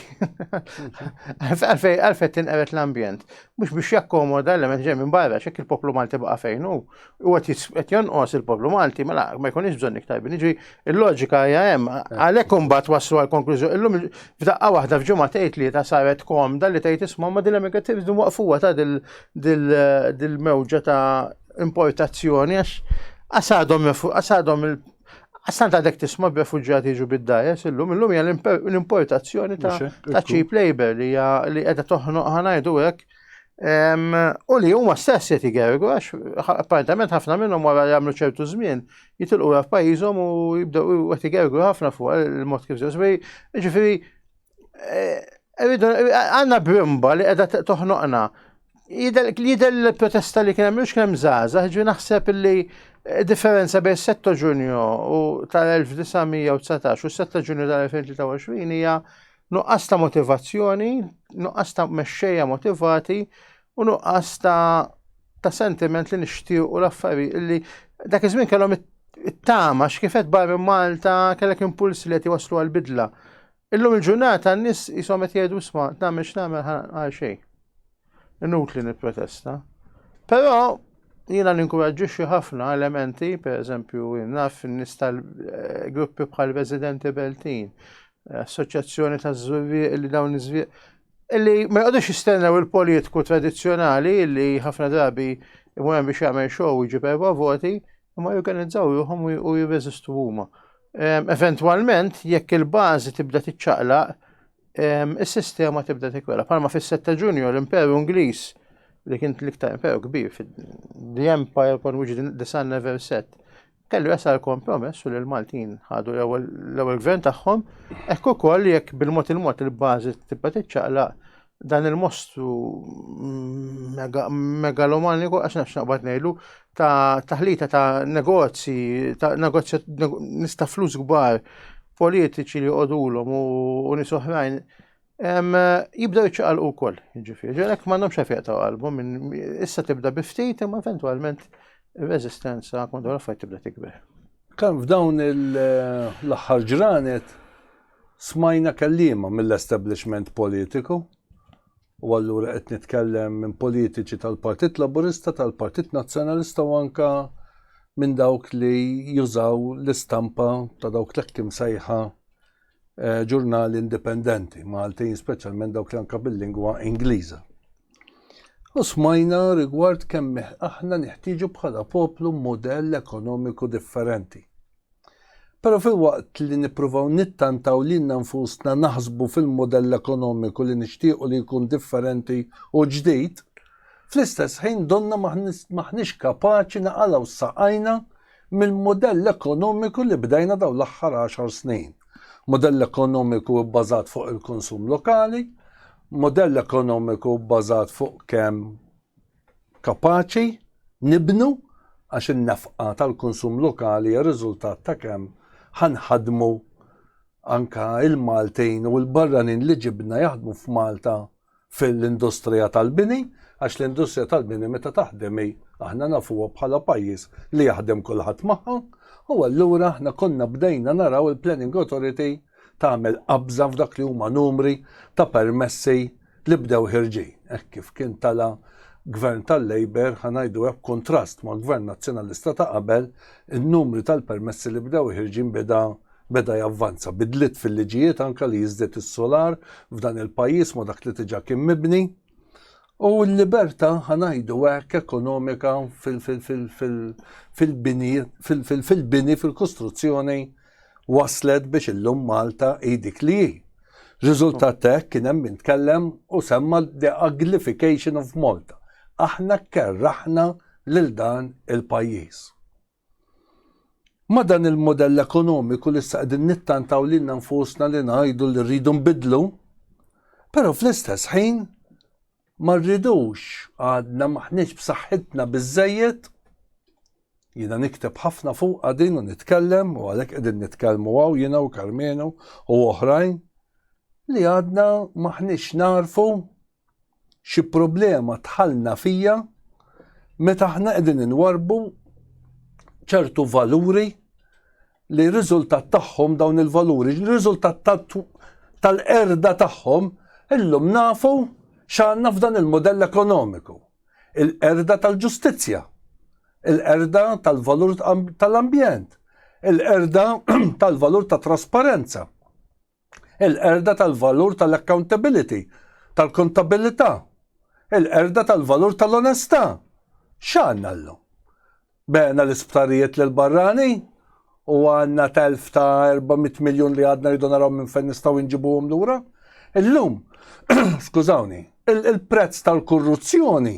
Għalfejn tinqeret l-ambjent. Mhux biex jakkomoda l-element ġej minn barra, xek il-poplu Malti baqa' fejn hu. u għet jonqos il-poplu Malti, mela ma jkunix bżonn iktar biniġi, il-loġika hija hemm, għalhekk imbagħad waslu għal konklużjoni. Illum f'daqqa waħda f'ġimgħa tgħid li ta' saret kom dalli tgħid isma' ma dil negativi din waqfuha ta' dil-mewġa ta' importazzjoni għax għasadhom għasadhom il Għastan ta' dek tisma b'refuġjati ġu bid-dajes, illum, illum hija l-importazzjoni ta' cheap labor li hija li qiegħda toħnoq ħanajdu hekk U li huma stess qed igergu għax apparentament ħafna minnhom wara li jagħmlu ċertu żmien jitilqu ra f'pajjiżhom u jibdew qed igergu ħafna fuq il-mod kif ġew. Ġifieri eh, għandna brimba li qiegħda toħnoqna. Jidher l-protesta li kien hemm mhux kemm żgħażagħ, ġifieri naħseb li eh, differenza bejn 7 Ġunju u tal-1919 u 7 Ġunju tal-2023 hija Nuqqas ta' motivazzjoni, nuqqas ta' mexxejja motivati u nuqqas ta' ta' sentiment li nixtiequ l-affarijiet li dak iż-żmien kellhom it-tama x'kifet barra Malta kellek impuls li qed iwasslu għall-bidla. Illum il-ġurnata n-nies jisom qed jgħidu sma' nagħmel x'nagħmel għal xejn. Inutli nipprotesta. Però jiena ninkuraġġixxi ħafna elementi, pereżempju naf in-nies tal-gruppi eh, bħal residenti Beltin, eh, assoċjazzjoni ta' żurrieq li dawn iż-żvieq illi ma jqogħdux jistennew il-politiku tradizzjonali illi ħafna drabi imur hemm biex jagħmel xogħol jiġi perwa voti, imma jorganizzaw ruħhom u jirreżistu huma. Ehm, eventwalment, jekk il-bażi tibda tiċċaqlaq, is-sistema tibda tikwela. Palma fis-7 ta' Ġunju l-Imperu Ingliż li kien l-iktar imperu kbir fid-The Empire kon which the sun never set. Kellu jasal kompromess u li l-Maltin ħadu l-ewwel gvern tagħhom, hekk ukoll jekk bil-mod il-mod il-bażi tibqa' tiċċaqlaq dan il-mostru mm, megalomaniku għax nafx naqbad ngħidu ta' taħlita ta' negozji, ta' negozju nista' flus kbar, politiċi li jqodulhom u nies oħrajn jibda jċaqal u koll, ġifiri, ġelek mandom xafiq ta' qalbu, minn issa tibda biftit, imma eventualment rezistenza kontra l-affajt tibda tikber. Kan f'dawn
l-axħar ġranet smajna kellima mill-establishment politiku u allura qed nitkellem minn politiċi tal-Partit Laburista, tal-Partit Nazzjonalista u anka minn dawk li jużaw l-istampa ta' dawk l-hekk imsejħa eh, ġurnali indipendenti Maltin, speċjalment dawk li anka bil-lingwa Ingliża. U smajna rigward kemm aħna neħtieġu bħala poplu modell ekonomiku differenti. Però filwaqt li nippruvaw nittantaw lilna nfusna naħsbu fil-mudell ekonomiku li nixtiequ li jkun differenti u ġdid, fl-istess ħin donnha m'aħniex kapaċi naqalgħu saqajna mill-mudell ekonomiku li bdejna dawn l-aħħar għaxar snin. Mudell ekonomiku bbażat fuq il-konsum lokali, mudell ekonomiku bbażat fuq kemm Kapaċi nibnu għax in-nefqa tal-konsum lokali hija riżultat ta' kemm ħa nħaddmu anke l-Maltin u l-barranin li ġibna jaħdmu f'Malta fil-industrija tal-bini għax l-industrija tal-bini meta taħdem hi aħna nafuha bħala pajjiż li jaħdem kulħadd magħha u allura aħna konna bdejna naraw il-Planning Authority tagħmel qabża f'dak li huma numri ta' permessi li bdew ħirġin hekk kif kien tala' Gvern tal-Labour, ħa ngħidu hekk, b'kuntrast ma' Gvern Nazzjonalista ta' qabel, in-numri tal-permessi li bdew ħirġin beda beda javvanza. Bidliet fil-liġijiet anke li jiżdied is-solar f'dan il-pajjiż ma' dak li diġà kien mibni. U l-libertà ħa ngħidu hekk ekonomika fil-bini fil-kostruzzjoni wasslet biex illum Malta hi dik li hi. Riżultat ta' hekk kien hemm min tkellem u semma the uglification of Malta. Aħna kkerraħna lil dan il-pajjiż. Ma dan il-modell ekonomiku li issa qegħdin nittantaw lilna nfusna li ngħidu li rridu nbiddlu, però fl-istess ħin Ma rridux, għadna m'aħniex b'saħħitna biżżejjed. Jiena nikteb ħafna fuqha din u nitkellem u għalhekk qegħdin nitkellmu hawn jiena u Karmenu u oħrajn li għadna m'aħniex narfu xi problema tħallna fija meta aħna qegħdin inwarbu ċertu valuri li riżultat tagħhom dawn il-valuri, li riżultat tal-erda tagħhom, illum nafu x'għandna f'dan il-modell ekonomiku. Il-erda tal-ġustizzja, il-erda tal-valur tal-ambjent, il-erda tal-valur ta' trasparenza. il-qerda tal-valur tal-accountability, tal-kontabilità, il-qerda tal-valur tal-onestà. X'għandna llum? Beħna l-isptarijiet lil barrani u għandna telf ta' 400 miljun li għadna rridu naraw minn fejn nistgħu nġibuhom lura. Illum, skużawni, il-prezz tal-korruzzjoni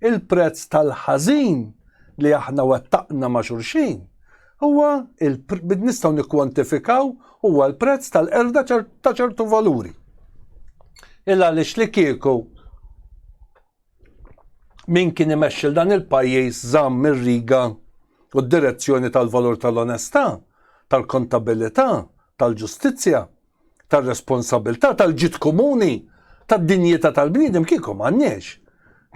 Il-prezz tal-ħażin li aħna wettaqna ma' xulxin huwa nistgħu nikkwantifikaw huwa l-prezz tal-qerda ta' ċertu valuri. Il għaliex li kieku min kien imexxil dan il-pajjiż żamm ir-riga u d-direzzjoni tal-valur tal-onestà, tal-kontabilità, tal-ġustizzja, tar-responsabbiltà, tal-ġid komuni, tad-dinjità tal-bniedem kieku m'għandniex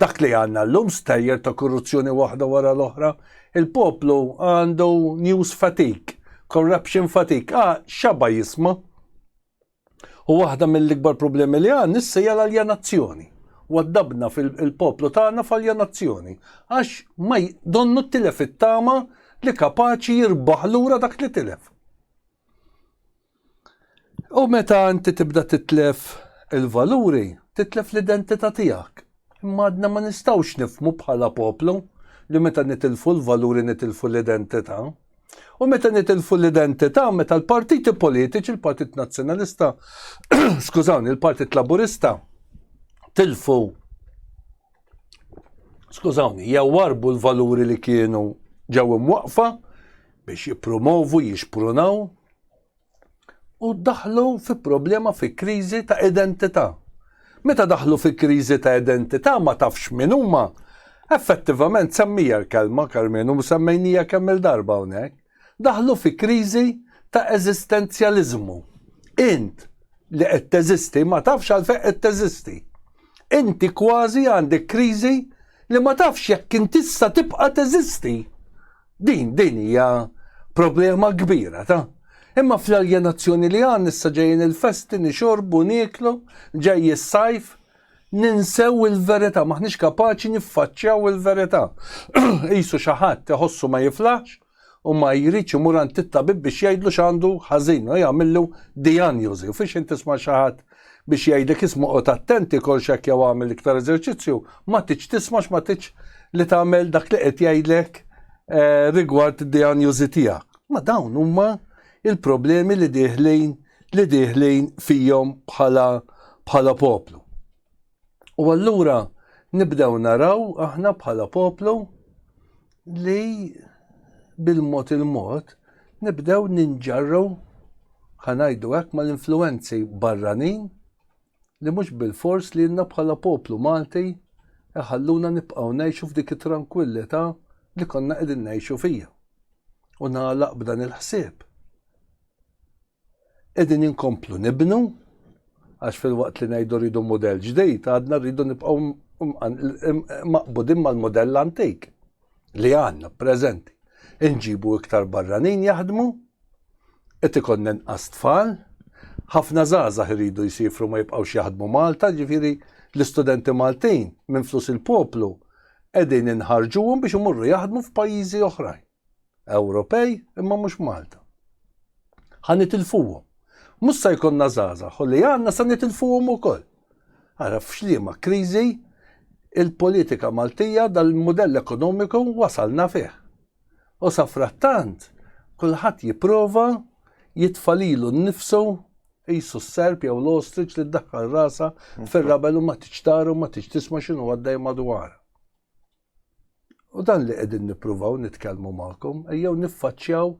dak li għandna llum stejjer ta' korruzzjoni waħda wara l-oħra. Il-poplu għandu news fatigue, corruption fatigue, ah, x'għaba jisma'. U waħda mill-ikbar problemi li għandna issa hija l-aljenazzjoni. Waddabna fil-poplu tagħna f'aljenazzjoni għax ma donnu tilef it-tama li kapaċi jirbaħ lura dak li tilef. U meta inti tibda titlef il-valuri, titlef l-identità tiegħek. Imma għadna ma nistgħux nifhmu bħala poplu li meta nitilfu l-valuri nitilfu l-identità. U meta nitilfu l-identità, meta l-partiti politiċi, il-Partit Nazzjonalista, skużawni, il-Partit Laburista, tilfu skużawni, jew warbu l-valuri li kienu ġew imwaqfa biex jippromovu, jixprunaw u daħlu fi problema fi kriżi ta' identità. Meta daħlu fi kriżi ta' identità ma tafx min huma, effettivament semmija l-kelma Karmenu semmejnija kemm il-darba hawnhekk. daħlu fi kriżi ta' eżistenzjaliżmu. Int li qed teżisti ma tafx għalfejn qed teżisti. Inti kważi għandek kriżi li ma tafx jekk kien tista' tibqa' teżisti. Din din hija problema kbira ta' Imma fl-aljenazzjoni li għan issa ġejjin il-festi nixorbu, niklu, ġej is-sajf, Ninsew il-verità, m'aħniex kapaċi niffaċċjaw il-verità. Qisu xi ħadd iħossu ma jiflaħx u ma jridx imur għand it-tabib biex jgħidlu x'għandu ħażin u jagħmillu dijanjosi. U fiex intisma' xi ħadd biex jgħidlek isma' qod attenti kol x'hekk jew għamel iktar eżerċizzju, ma tiġ tisma' x'ma tiġ li tagħmel dak li qed jgħidlek eh, rigward id-dijanjosi tiegħek. Ma dawn huma il-problemi li dieħlin li dieħlin fihom bħala bħala poplu. U allura nibdew naraw aħna bħala poplu li bil-mod il-mod nibdew ninġarru ħanajdu hekk mal-influenzi barranin li mhux bilfors lilna bħala poplu Malti jħalluna nibqgħu ngħixu f'dik it-trankwillità li konna qegħdin ngħixu fiha. U nagħlaq b'dan il-ħsieb. Qegħdin inkomplu nibnu għax fil-waqt li ngħidu rridu mudell ġdid, għadna rridu nibqgħu maqbudin mal-mudell antik. li għandna preżenti inġibu iktar barranin jaħdmu, qed ikollna inqas tfal, ħafna żgħażagħ iridu jsifru ma jibqgħux jaħdmu Malta, ġifieri l-istudenti Maltin minn flus il-poplu qegħdin inħarġuhom biex imorru jaħdmu f'pajjiżi oħrajn. Ewropej imma mhux Malta. Ħa nitilfuhom. Mhux se jkollna żgħażagħ u li għandna se nitilfuhom ukoll. Ara f'liema kriżi il-politika Maltija dal-mudell ekonomiku wasalna fih. U safrattant kulħadd jipprova jitfa' lilu nnifsu qisu s-serp jew l-ostrich li ddaħħal rasha fir-rabel u ma tridx tara u ma tridx tisma' x'inhu għaddej madwarha. U dan li qegħdin nippruvaw nitkellmu magħkom, ejjew niffaċċjaw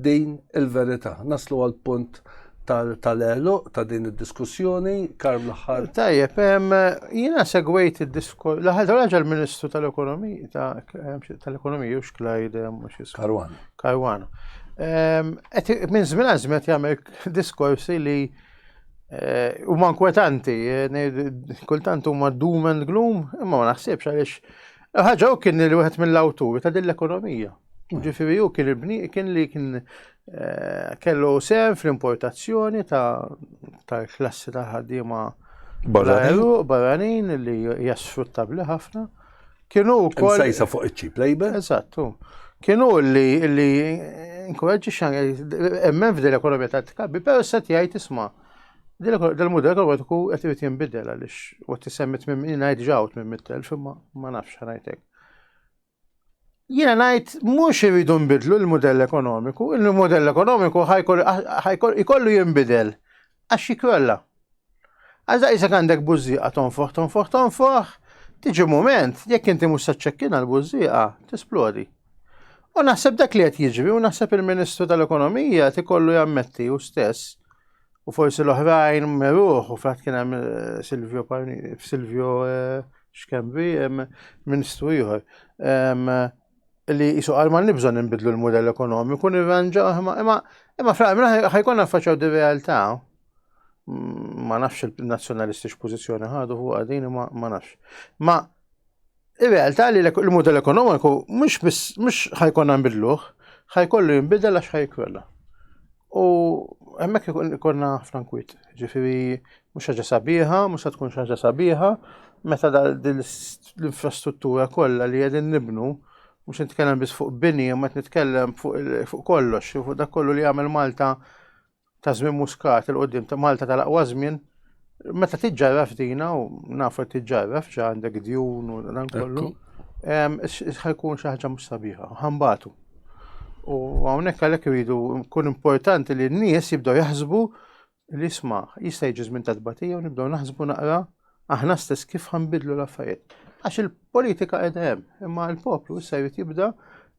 din il-verità. Naslu għal punt tal-elu ta' din id-diskussjoni, karm l-ħar. Tajjeb,
jina segwejt id-diskur, l-ħar raġel ministru tal-ekonomija, tal-ekonomija, u xklajde, eh, mux jisku. Karwana. Karwana. Minn zmin għazmet jgħamil diskorsi li Eh, huma nkwetanti, eh, kultant huma doom and gloom, imma ma naħsibx għaliex eh, ħaġa u kien li wieħed mill-awturi ta' din l-ekonomija. Mm. Ġifieri u kien il-bni kien li kien kellu sem fl-importazzjoni tal-klassi ta' ħaddiema barranin li jasfruttabli ħafna. Kienu wkoll. Sejsa fuq iċ-cheap labor.
Eżattu.
Kienu li li nkuraġġi xan emmen f'dil ekonomija ta' tkabbi, però se jgħid isma' dil-mudell ekonomiku qed irid jinbidel għaliex u tisemmi tmim ngħid ġaw tmim mittel imma ma nafx ngħidlek. Jiena ngħid mhux iridu nbidlu l-mudell ekonomiku, il-mudell ekonomiku ħajkollu jinbidel għax jikrolla. Għazda jisek għandek bużżieqa tonfoħ, tonfoħ, tonfoħ, tiġi moment, jekk inti mhux se ċċekkina l-bużżieqa, tisplodi. U naħseb dak li qed jiġri u naħseb il-Ministru tal-Ekonomija tikollu jammetti u stess u forsi l-oħrajn meruħ u frat kien hemm eh, Silvio Silvio eh, xkembi Ministru ieħor li jisu għal ma nibżon nbidlu l-modell ekonomiku nirranġa imma imma fl-għamil ħajkun naffaċaw di realtà. ma nafx il-nazzjonalisti x'pożizzjoni ħadu fuq għadin ma nafx. Ma ir-realtà li l-mudell ekonomiku mhux ħajkonna nbidluh, ħajkollu jinbidel għax ħajkwella. U hemmhekk ikonna frankwit, ġifieri mhux ħaġa sabiħa, mhux se tkun ħaġa sabiħa, meta l-infrastruttura kollha li qegħdin nibnu mhux nitkellem biss fuq bini, ma nitkellem fuq kollox, fuq dak kollu li jagħmel Malta ta' żmien muskat il qudiem ta' Malta tal-aqwa żmien meta tiġġarraf dina u nafu li tiġġarraf xa għandek djun u dan kollu. Ħajkun xi ħaġa mhux sabiħa, ħambatu. U hawnhekk għalhekk iridu kun importanti li n-nies jibdew jaħsbu li jisma' jista' jiġi żmien ta' tbatija u nibdew naħsbu naqra Aħna stess kif ħanbidlu l-affarijiet. Għax il-politika qiegħda hemm, imma l-poplu issa jrid jibda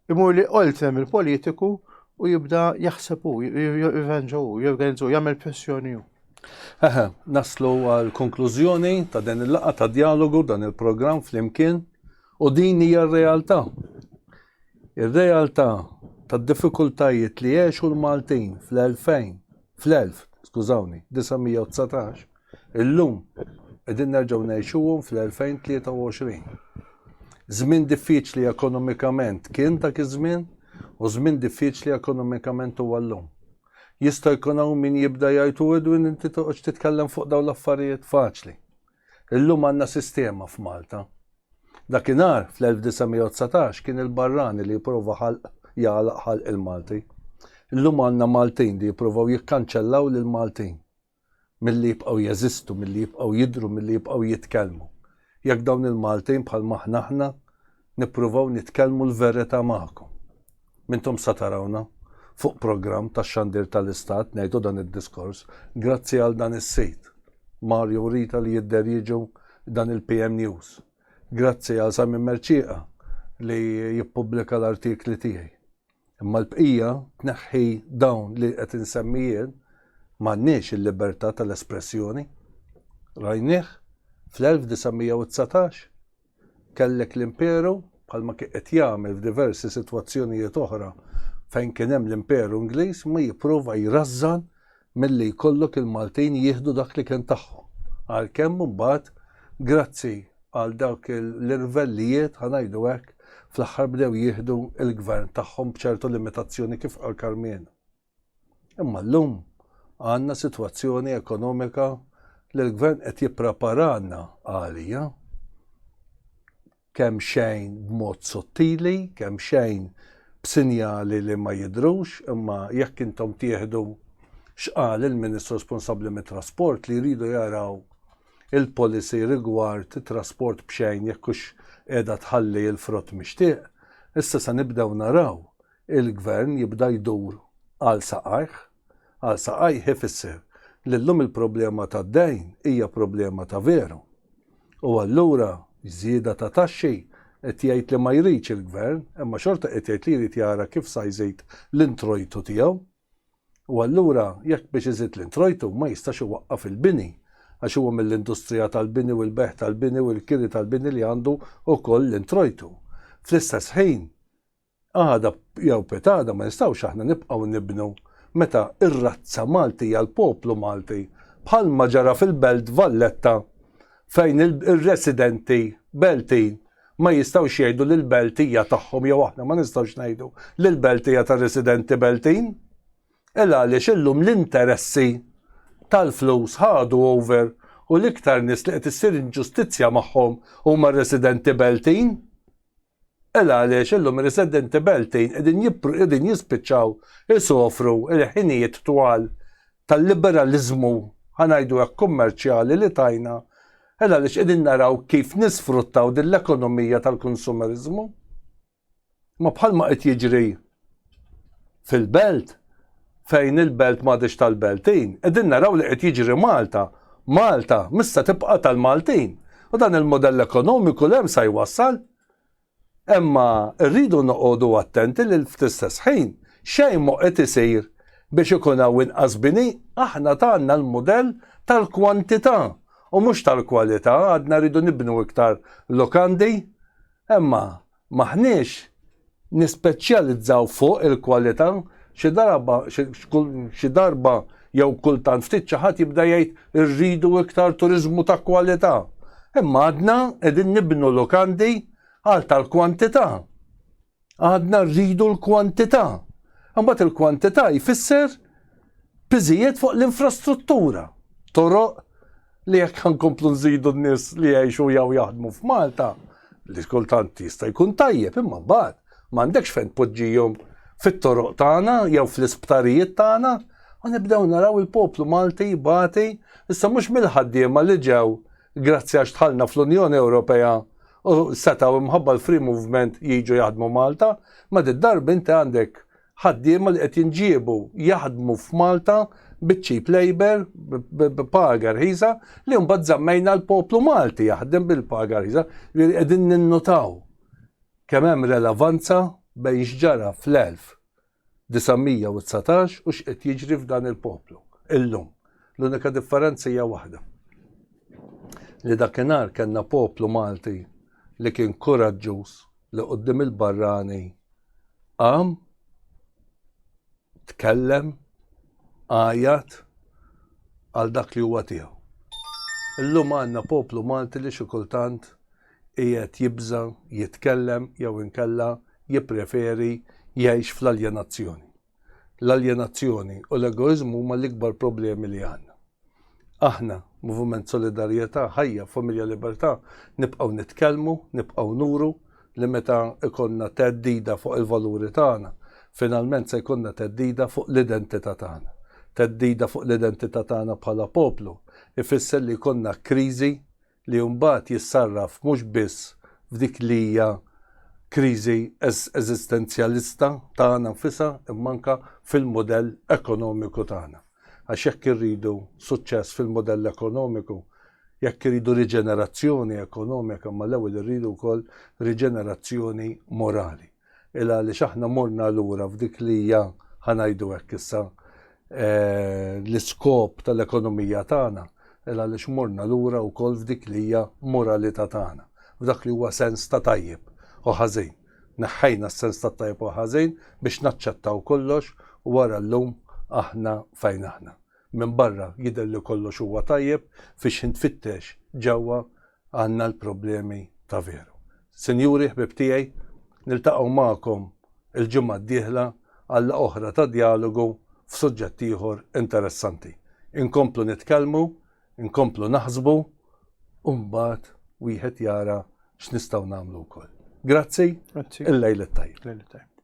imur li qoltrem il-politiku u jibda jaħseb u jirranġa u jorganizzu, jagħmel pressjoni u. Eħe,
naslu għal konklużjoni ta' din il-laqa ta' dialogu dan il-programm flimkien u din hija r-realtà. Ir-realtà tad diffikultajiet li għexu l-Maltin fl-2000, fl-1000, skużawni, 919, Illum, qegħdin nerġgħu ngħixuhom fl-2023. Żmien diffiċli ekonomikament kien dak iż-żmien u żmien diffiċli ekonomikament huwa llum. Jista' jkun hawn min jibda jgħid u Edwin inti toqgħodx titkellem fuq dawn l-affarijiet faċli. Illum għandna sistema f'Malta. Dakinhar fl-1919 kien il-barrani li jipprova ħalq jagħlaq ħalq il-Malti. Illum għandna Maltin li jippruvaw jikkanċellaw lill-Maltin. milli jibqgħu jeżistu, milli jibqgħu jidhru, milli jibqgħu jitkellmu. Jekk dawn il-Maltin bħal m'aħna aħna nippruvaw nitkellmu l-verità magħkom. M'intom sa tarawna fuq programm tax-xandir tal-Istat ngħidu dan id-diskors grazzi għal dan is-sit. Mario u Rita li jidher jiġu dan il-PM News. Grazzi għal Simon Merċieqa li jippubblika l-artikli tiegħi. Imma l-bqija tneħħi dawn li qed insemmi jien m'għandniex il-libertà tal-espressjoni. Rajnieh fl-1919 kellek l-Imperu bħalma kien qed jagħmel f'diversi sitwazzjonijiet oħra fejn kien hemm l-Imperu Ingliż ma jipprova jrażżan milli jkollok il-Maltin jieħdu dak li kien tagħhom. Għalkemm imbagħad grazzi għal dawk l-irvellijiet ħa ngħidu hekk fl-aħħar bdew jieħdu l-gvern tagħhom b'ċertu limitazzjoni kif qal Karmien. Imma llum għandna sitwazzjoni ekonomika li l-gvern qed jippreparana għalija kemxejn b'mod sottili, kemxejn b'sinjali li ma jidhrux, imma jekk intom tieħdu x'qal il-Ministru responsabbli mit-trasport li jridu jaraw il-policy rigward it-trasport b'xejn jekk hux qiegħda tħalli l-frott mixtieq, issa se nibdew naraw il-Gvern jibda jdur għal saqajh. Għal saqajh ifisser li llum il-problema tad-dejn hija problema ta' veru. U allura żieda ta' taxxi? Qed jgħid li ma jridx il-Gvern, imma xorta qed jgħid li jrid jara kif sa jżid l-introjtu tiegħu. U allura jekk biex iżid l-introjtu ma jistax iwaqqaf il-bini, għax huwa mill-industrija tal-bini u l-bejgħ tal-bini u l-kiri tal-bini li għandu wkoll l-introjtu. Fl-istess ħin, Għada jew pitada ma nistgħux aħna nibqgħu nibnu meta r-razza Maltija, l-poplu Malti, bħalma ġara fil-Belt Valletta fejn ir-residenti Beltin ma jistgħux jgħidu li l-Belt hija tagħhom jew aħna ma nistgħux ngħidu li l-Belt hija tar-residenti Beltin. Il għaliex illum l-interessi tal-flus ħadu over u l-iktar nies li qed issir inġustizzja magħhom huma r-residenti Beltin. Hekk għaliex illum ir-residenti Beltin qegħdin jispiċċaw isofru l-ħinijiet twal tal-liberaliżmu, ħa ngħidu hekk kummerċjali li tajna, hekk għaliex qegħdin naraw kif nisfruttaw din l-ekonomija tal-kunsumeriżmu. Imma bħalma qed jiġri fil-belt fejn il-belt m'għadhiex tal-Beltin, qegħdin naraw li qed jiġri Malta, Malta mhix se tibqa' tal-Maltin. U dan il-mudell ekonomiku li hemm sa jwassal. Imma rridu noqogħdu attenti li fl-istess ħin xejn mhu qed isir biex ikun hawn inqas bini, aħna tgħandna l-mudell tal-kwantità u mhux tal-kwalità, għadna rridu nibnu iktar lukandi, imma M'aħniex nispeċjalizzaw fuq il-kwalità, xi darba xi darba jew kultant ftit xi ħadd jibda jgħid irridu iktar turiżmu ta' kwalità. Imma għadna qegħdin nibnu lukandi għal tal-kwantità. Għadna rridu l-kwantità. Imbagħad il-kwantità jfisser piżijiet fuq l-infrastruttura, toroq, li jekk ħankomplu nżidu n-nies li jgħixu jew jaħdmu f'Malta, li kultant jista' jkun tajjeb imma mbagħad m'għandekx fejn tpoġġihom fit-toroq tagħna jew fl-isptarijiet tagħna u nibdew naraw il-poplu Malti jbati issa mhux mill-ħaddiema li ġew grazzi għax tħallna fl-Unjoni Ewropea u setgħu imħabba l-free movement jiġu jaħdmu Malta, ma did-darb inti għandek ħaddiema li qed jinġiebu jaħdmu f'Malta bi cheap labor, b'paga rħisa, li mbagħad żammejna l-poplu Malti jaħdem bil-paga rħisa, li qegħdin ninnutaw kemm hemm relevanza bejn x'ġara fl-1919 u x'qed jiġri f'dan il-poplu illum. L-unika differenza hija waħda. Li dakinhar kellna poplu Malti li kien kuraġġuż li quddiem il-barrani qam, tkellem, għajat għal dak li huwa tiegħu. Illum għandna poplu Malti li xi kultant qiegħed jibża' jitkellem jew inkella jippreferi jgħix fl-aljenazzjoni. l-aljenazzjoni u l-egoiżmu huma l-ikbar problemi li għandna. Aħna, Moviment Solidarjetà, Ħajja, Familja Libertà, nibqgħu nitkellmu, nibqgħu nuru li meta jkollna theddida fuq il-valuri tagħna, finalment se jkollna theddida fuq l-identità tagħna. Theddida fuq l-identità tagħna bħala poplu jfisser li jkollna kriżi li mbagħad jissarraf mhux biss f'dik li hija kriżi eżistenzjalista tagħna nfisha imma anke fil-mudell ekonomiku tagħna. Għax jekk irridu suċċess fil-mudell ekonomiku, jekk irridu riġenerazzjoni ekonomika, imma l-ewwel irridu wkoll riġenerazzjoni morali. il għaliex aħna morna lura f'dik li hija, ħa ngħidu hekk issa, l-iskop tal-ekonomija tagħna, il għaliex morna lura wkoll f'dik li hija moralità tagħna, f'dak li huwa sens ta' tajjeb u ħażin. Neħħejna s-sens tat-tajjeb u l-ħażin biex naċċettaw kollox u ara llum aħna fejn aħna. Minbarra jidher li kollox huwa tajjeb, fix-xi tfittex ġewwa għandna l-problemi ta' veru. Sinjuri ħbieb tiegħi, niltaqgħu magħkom il-ġimgħa d-dieħla għal laqgħa oħra ta' djalogu f'suġġett ieħor interessanti. Inkomplu nitkellmu, inkomplu naħsbu u mbagħad wieħed jara x'nistgħu nagħmlu wkoll. Grazzi, il-lejl it-tajjeb.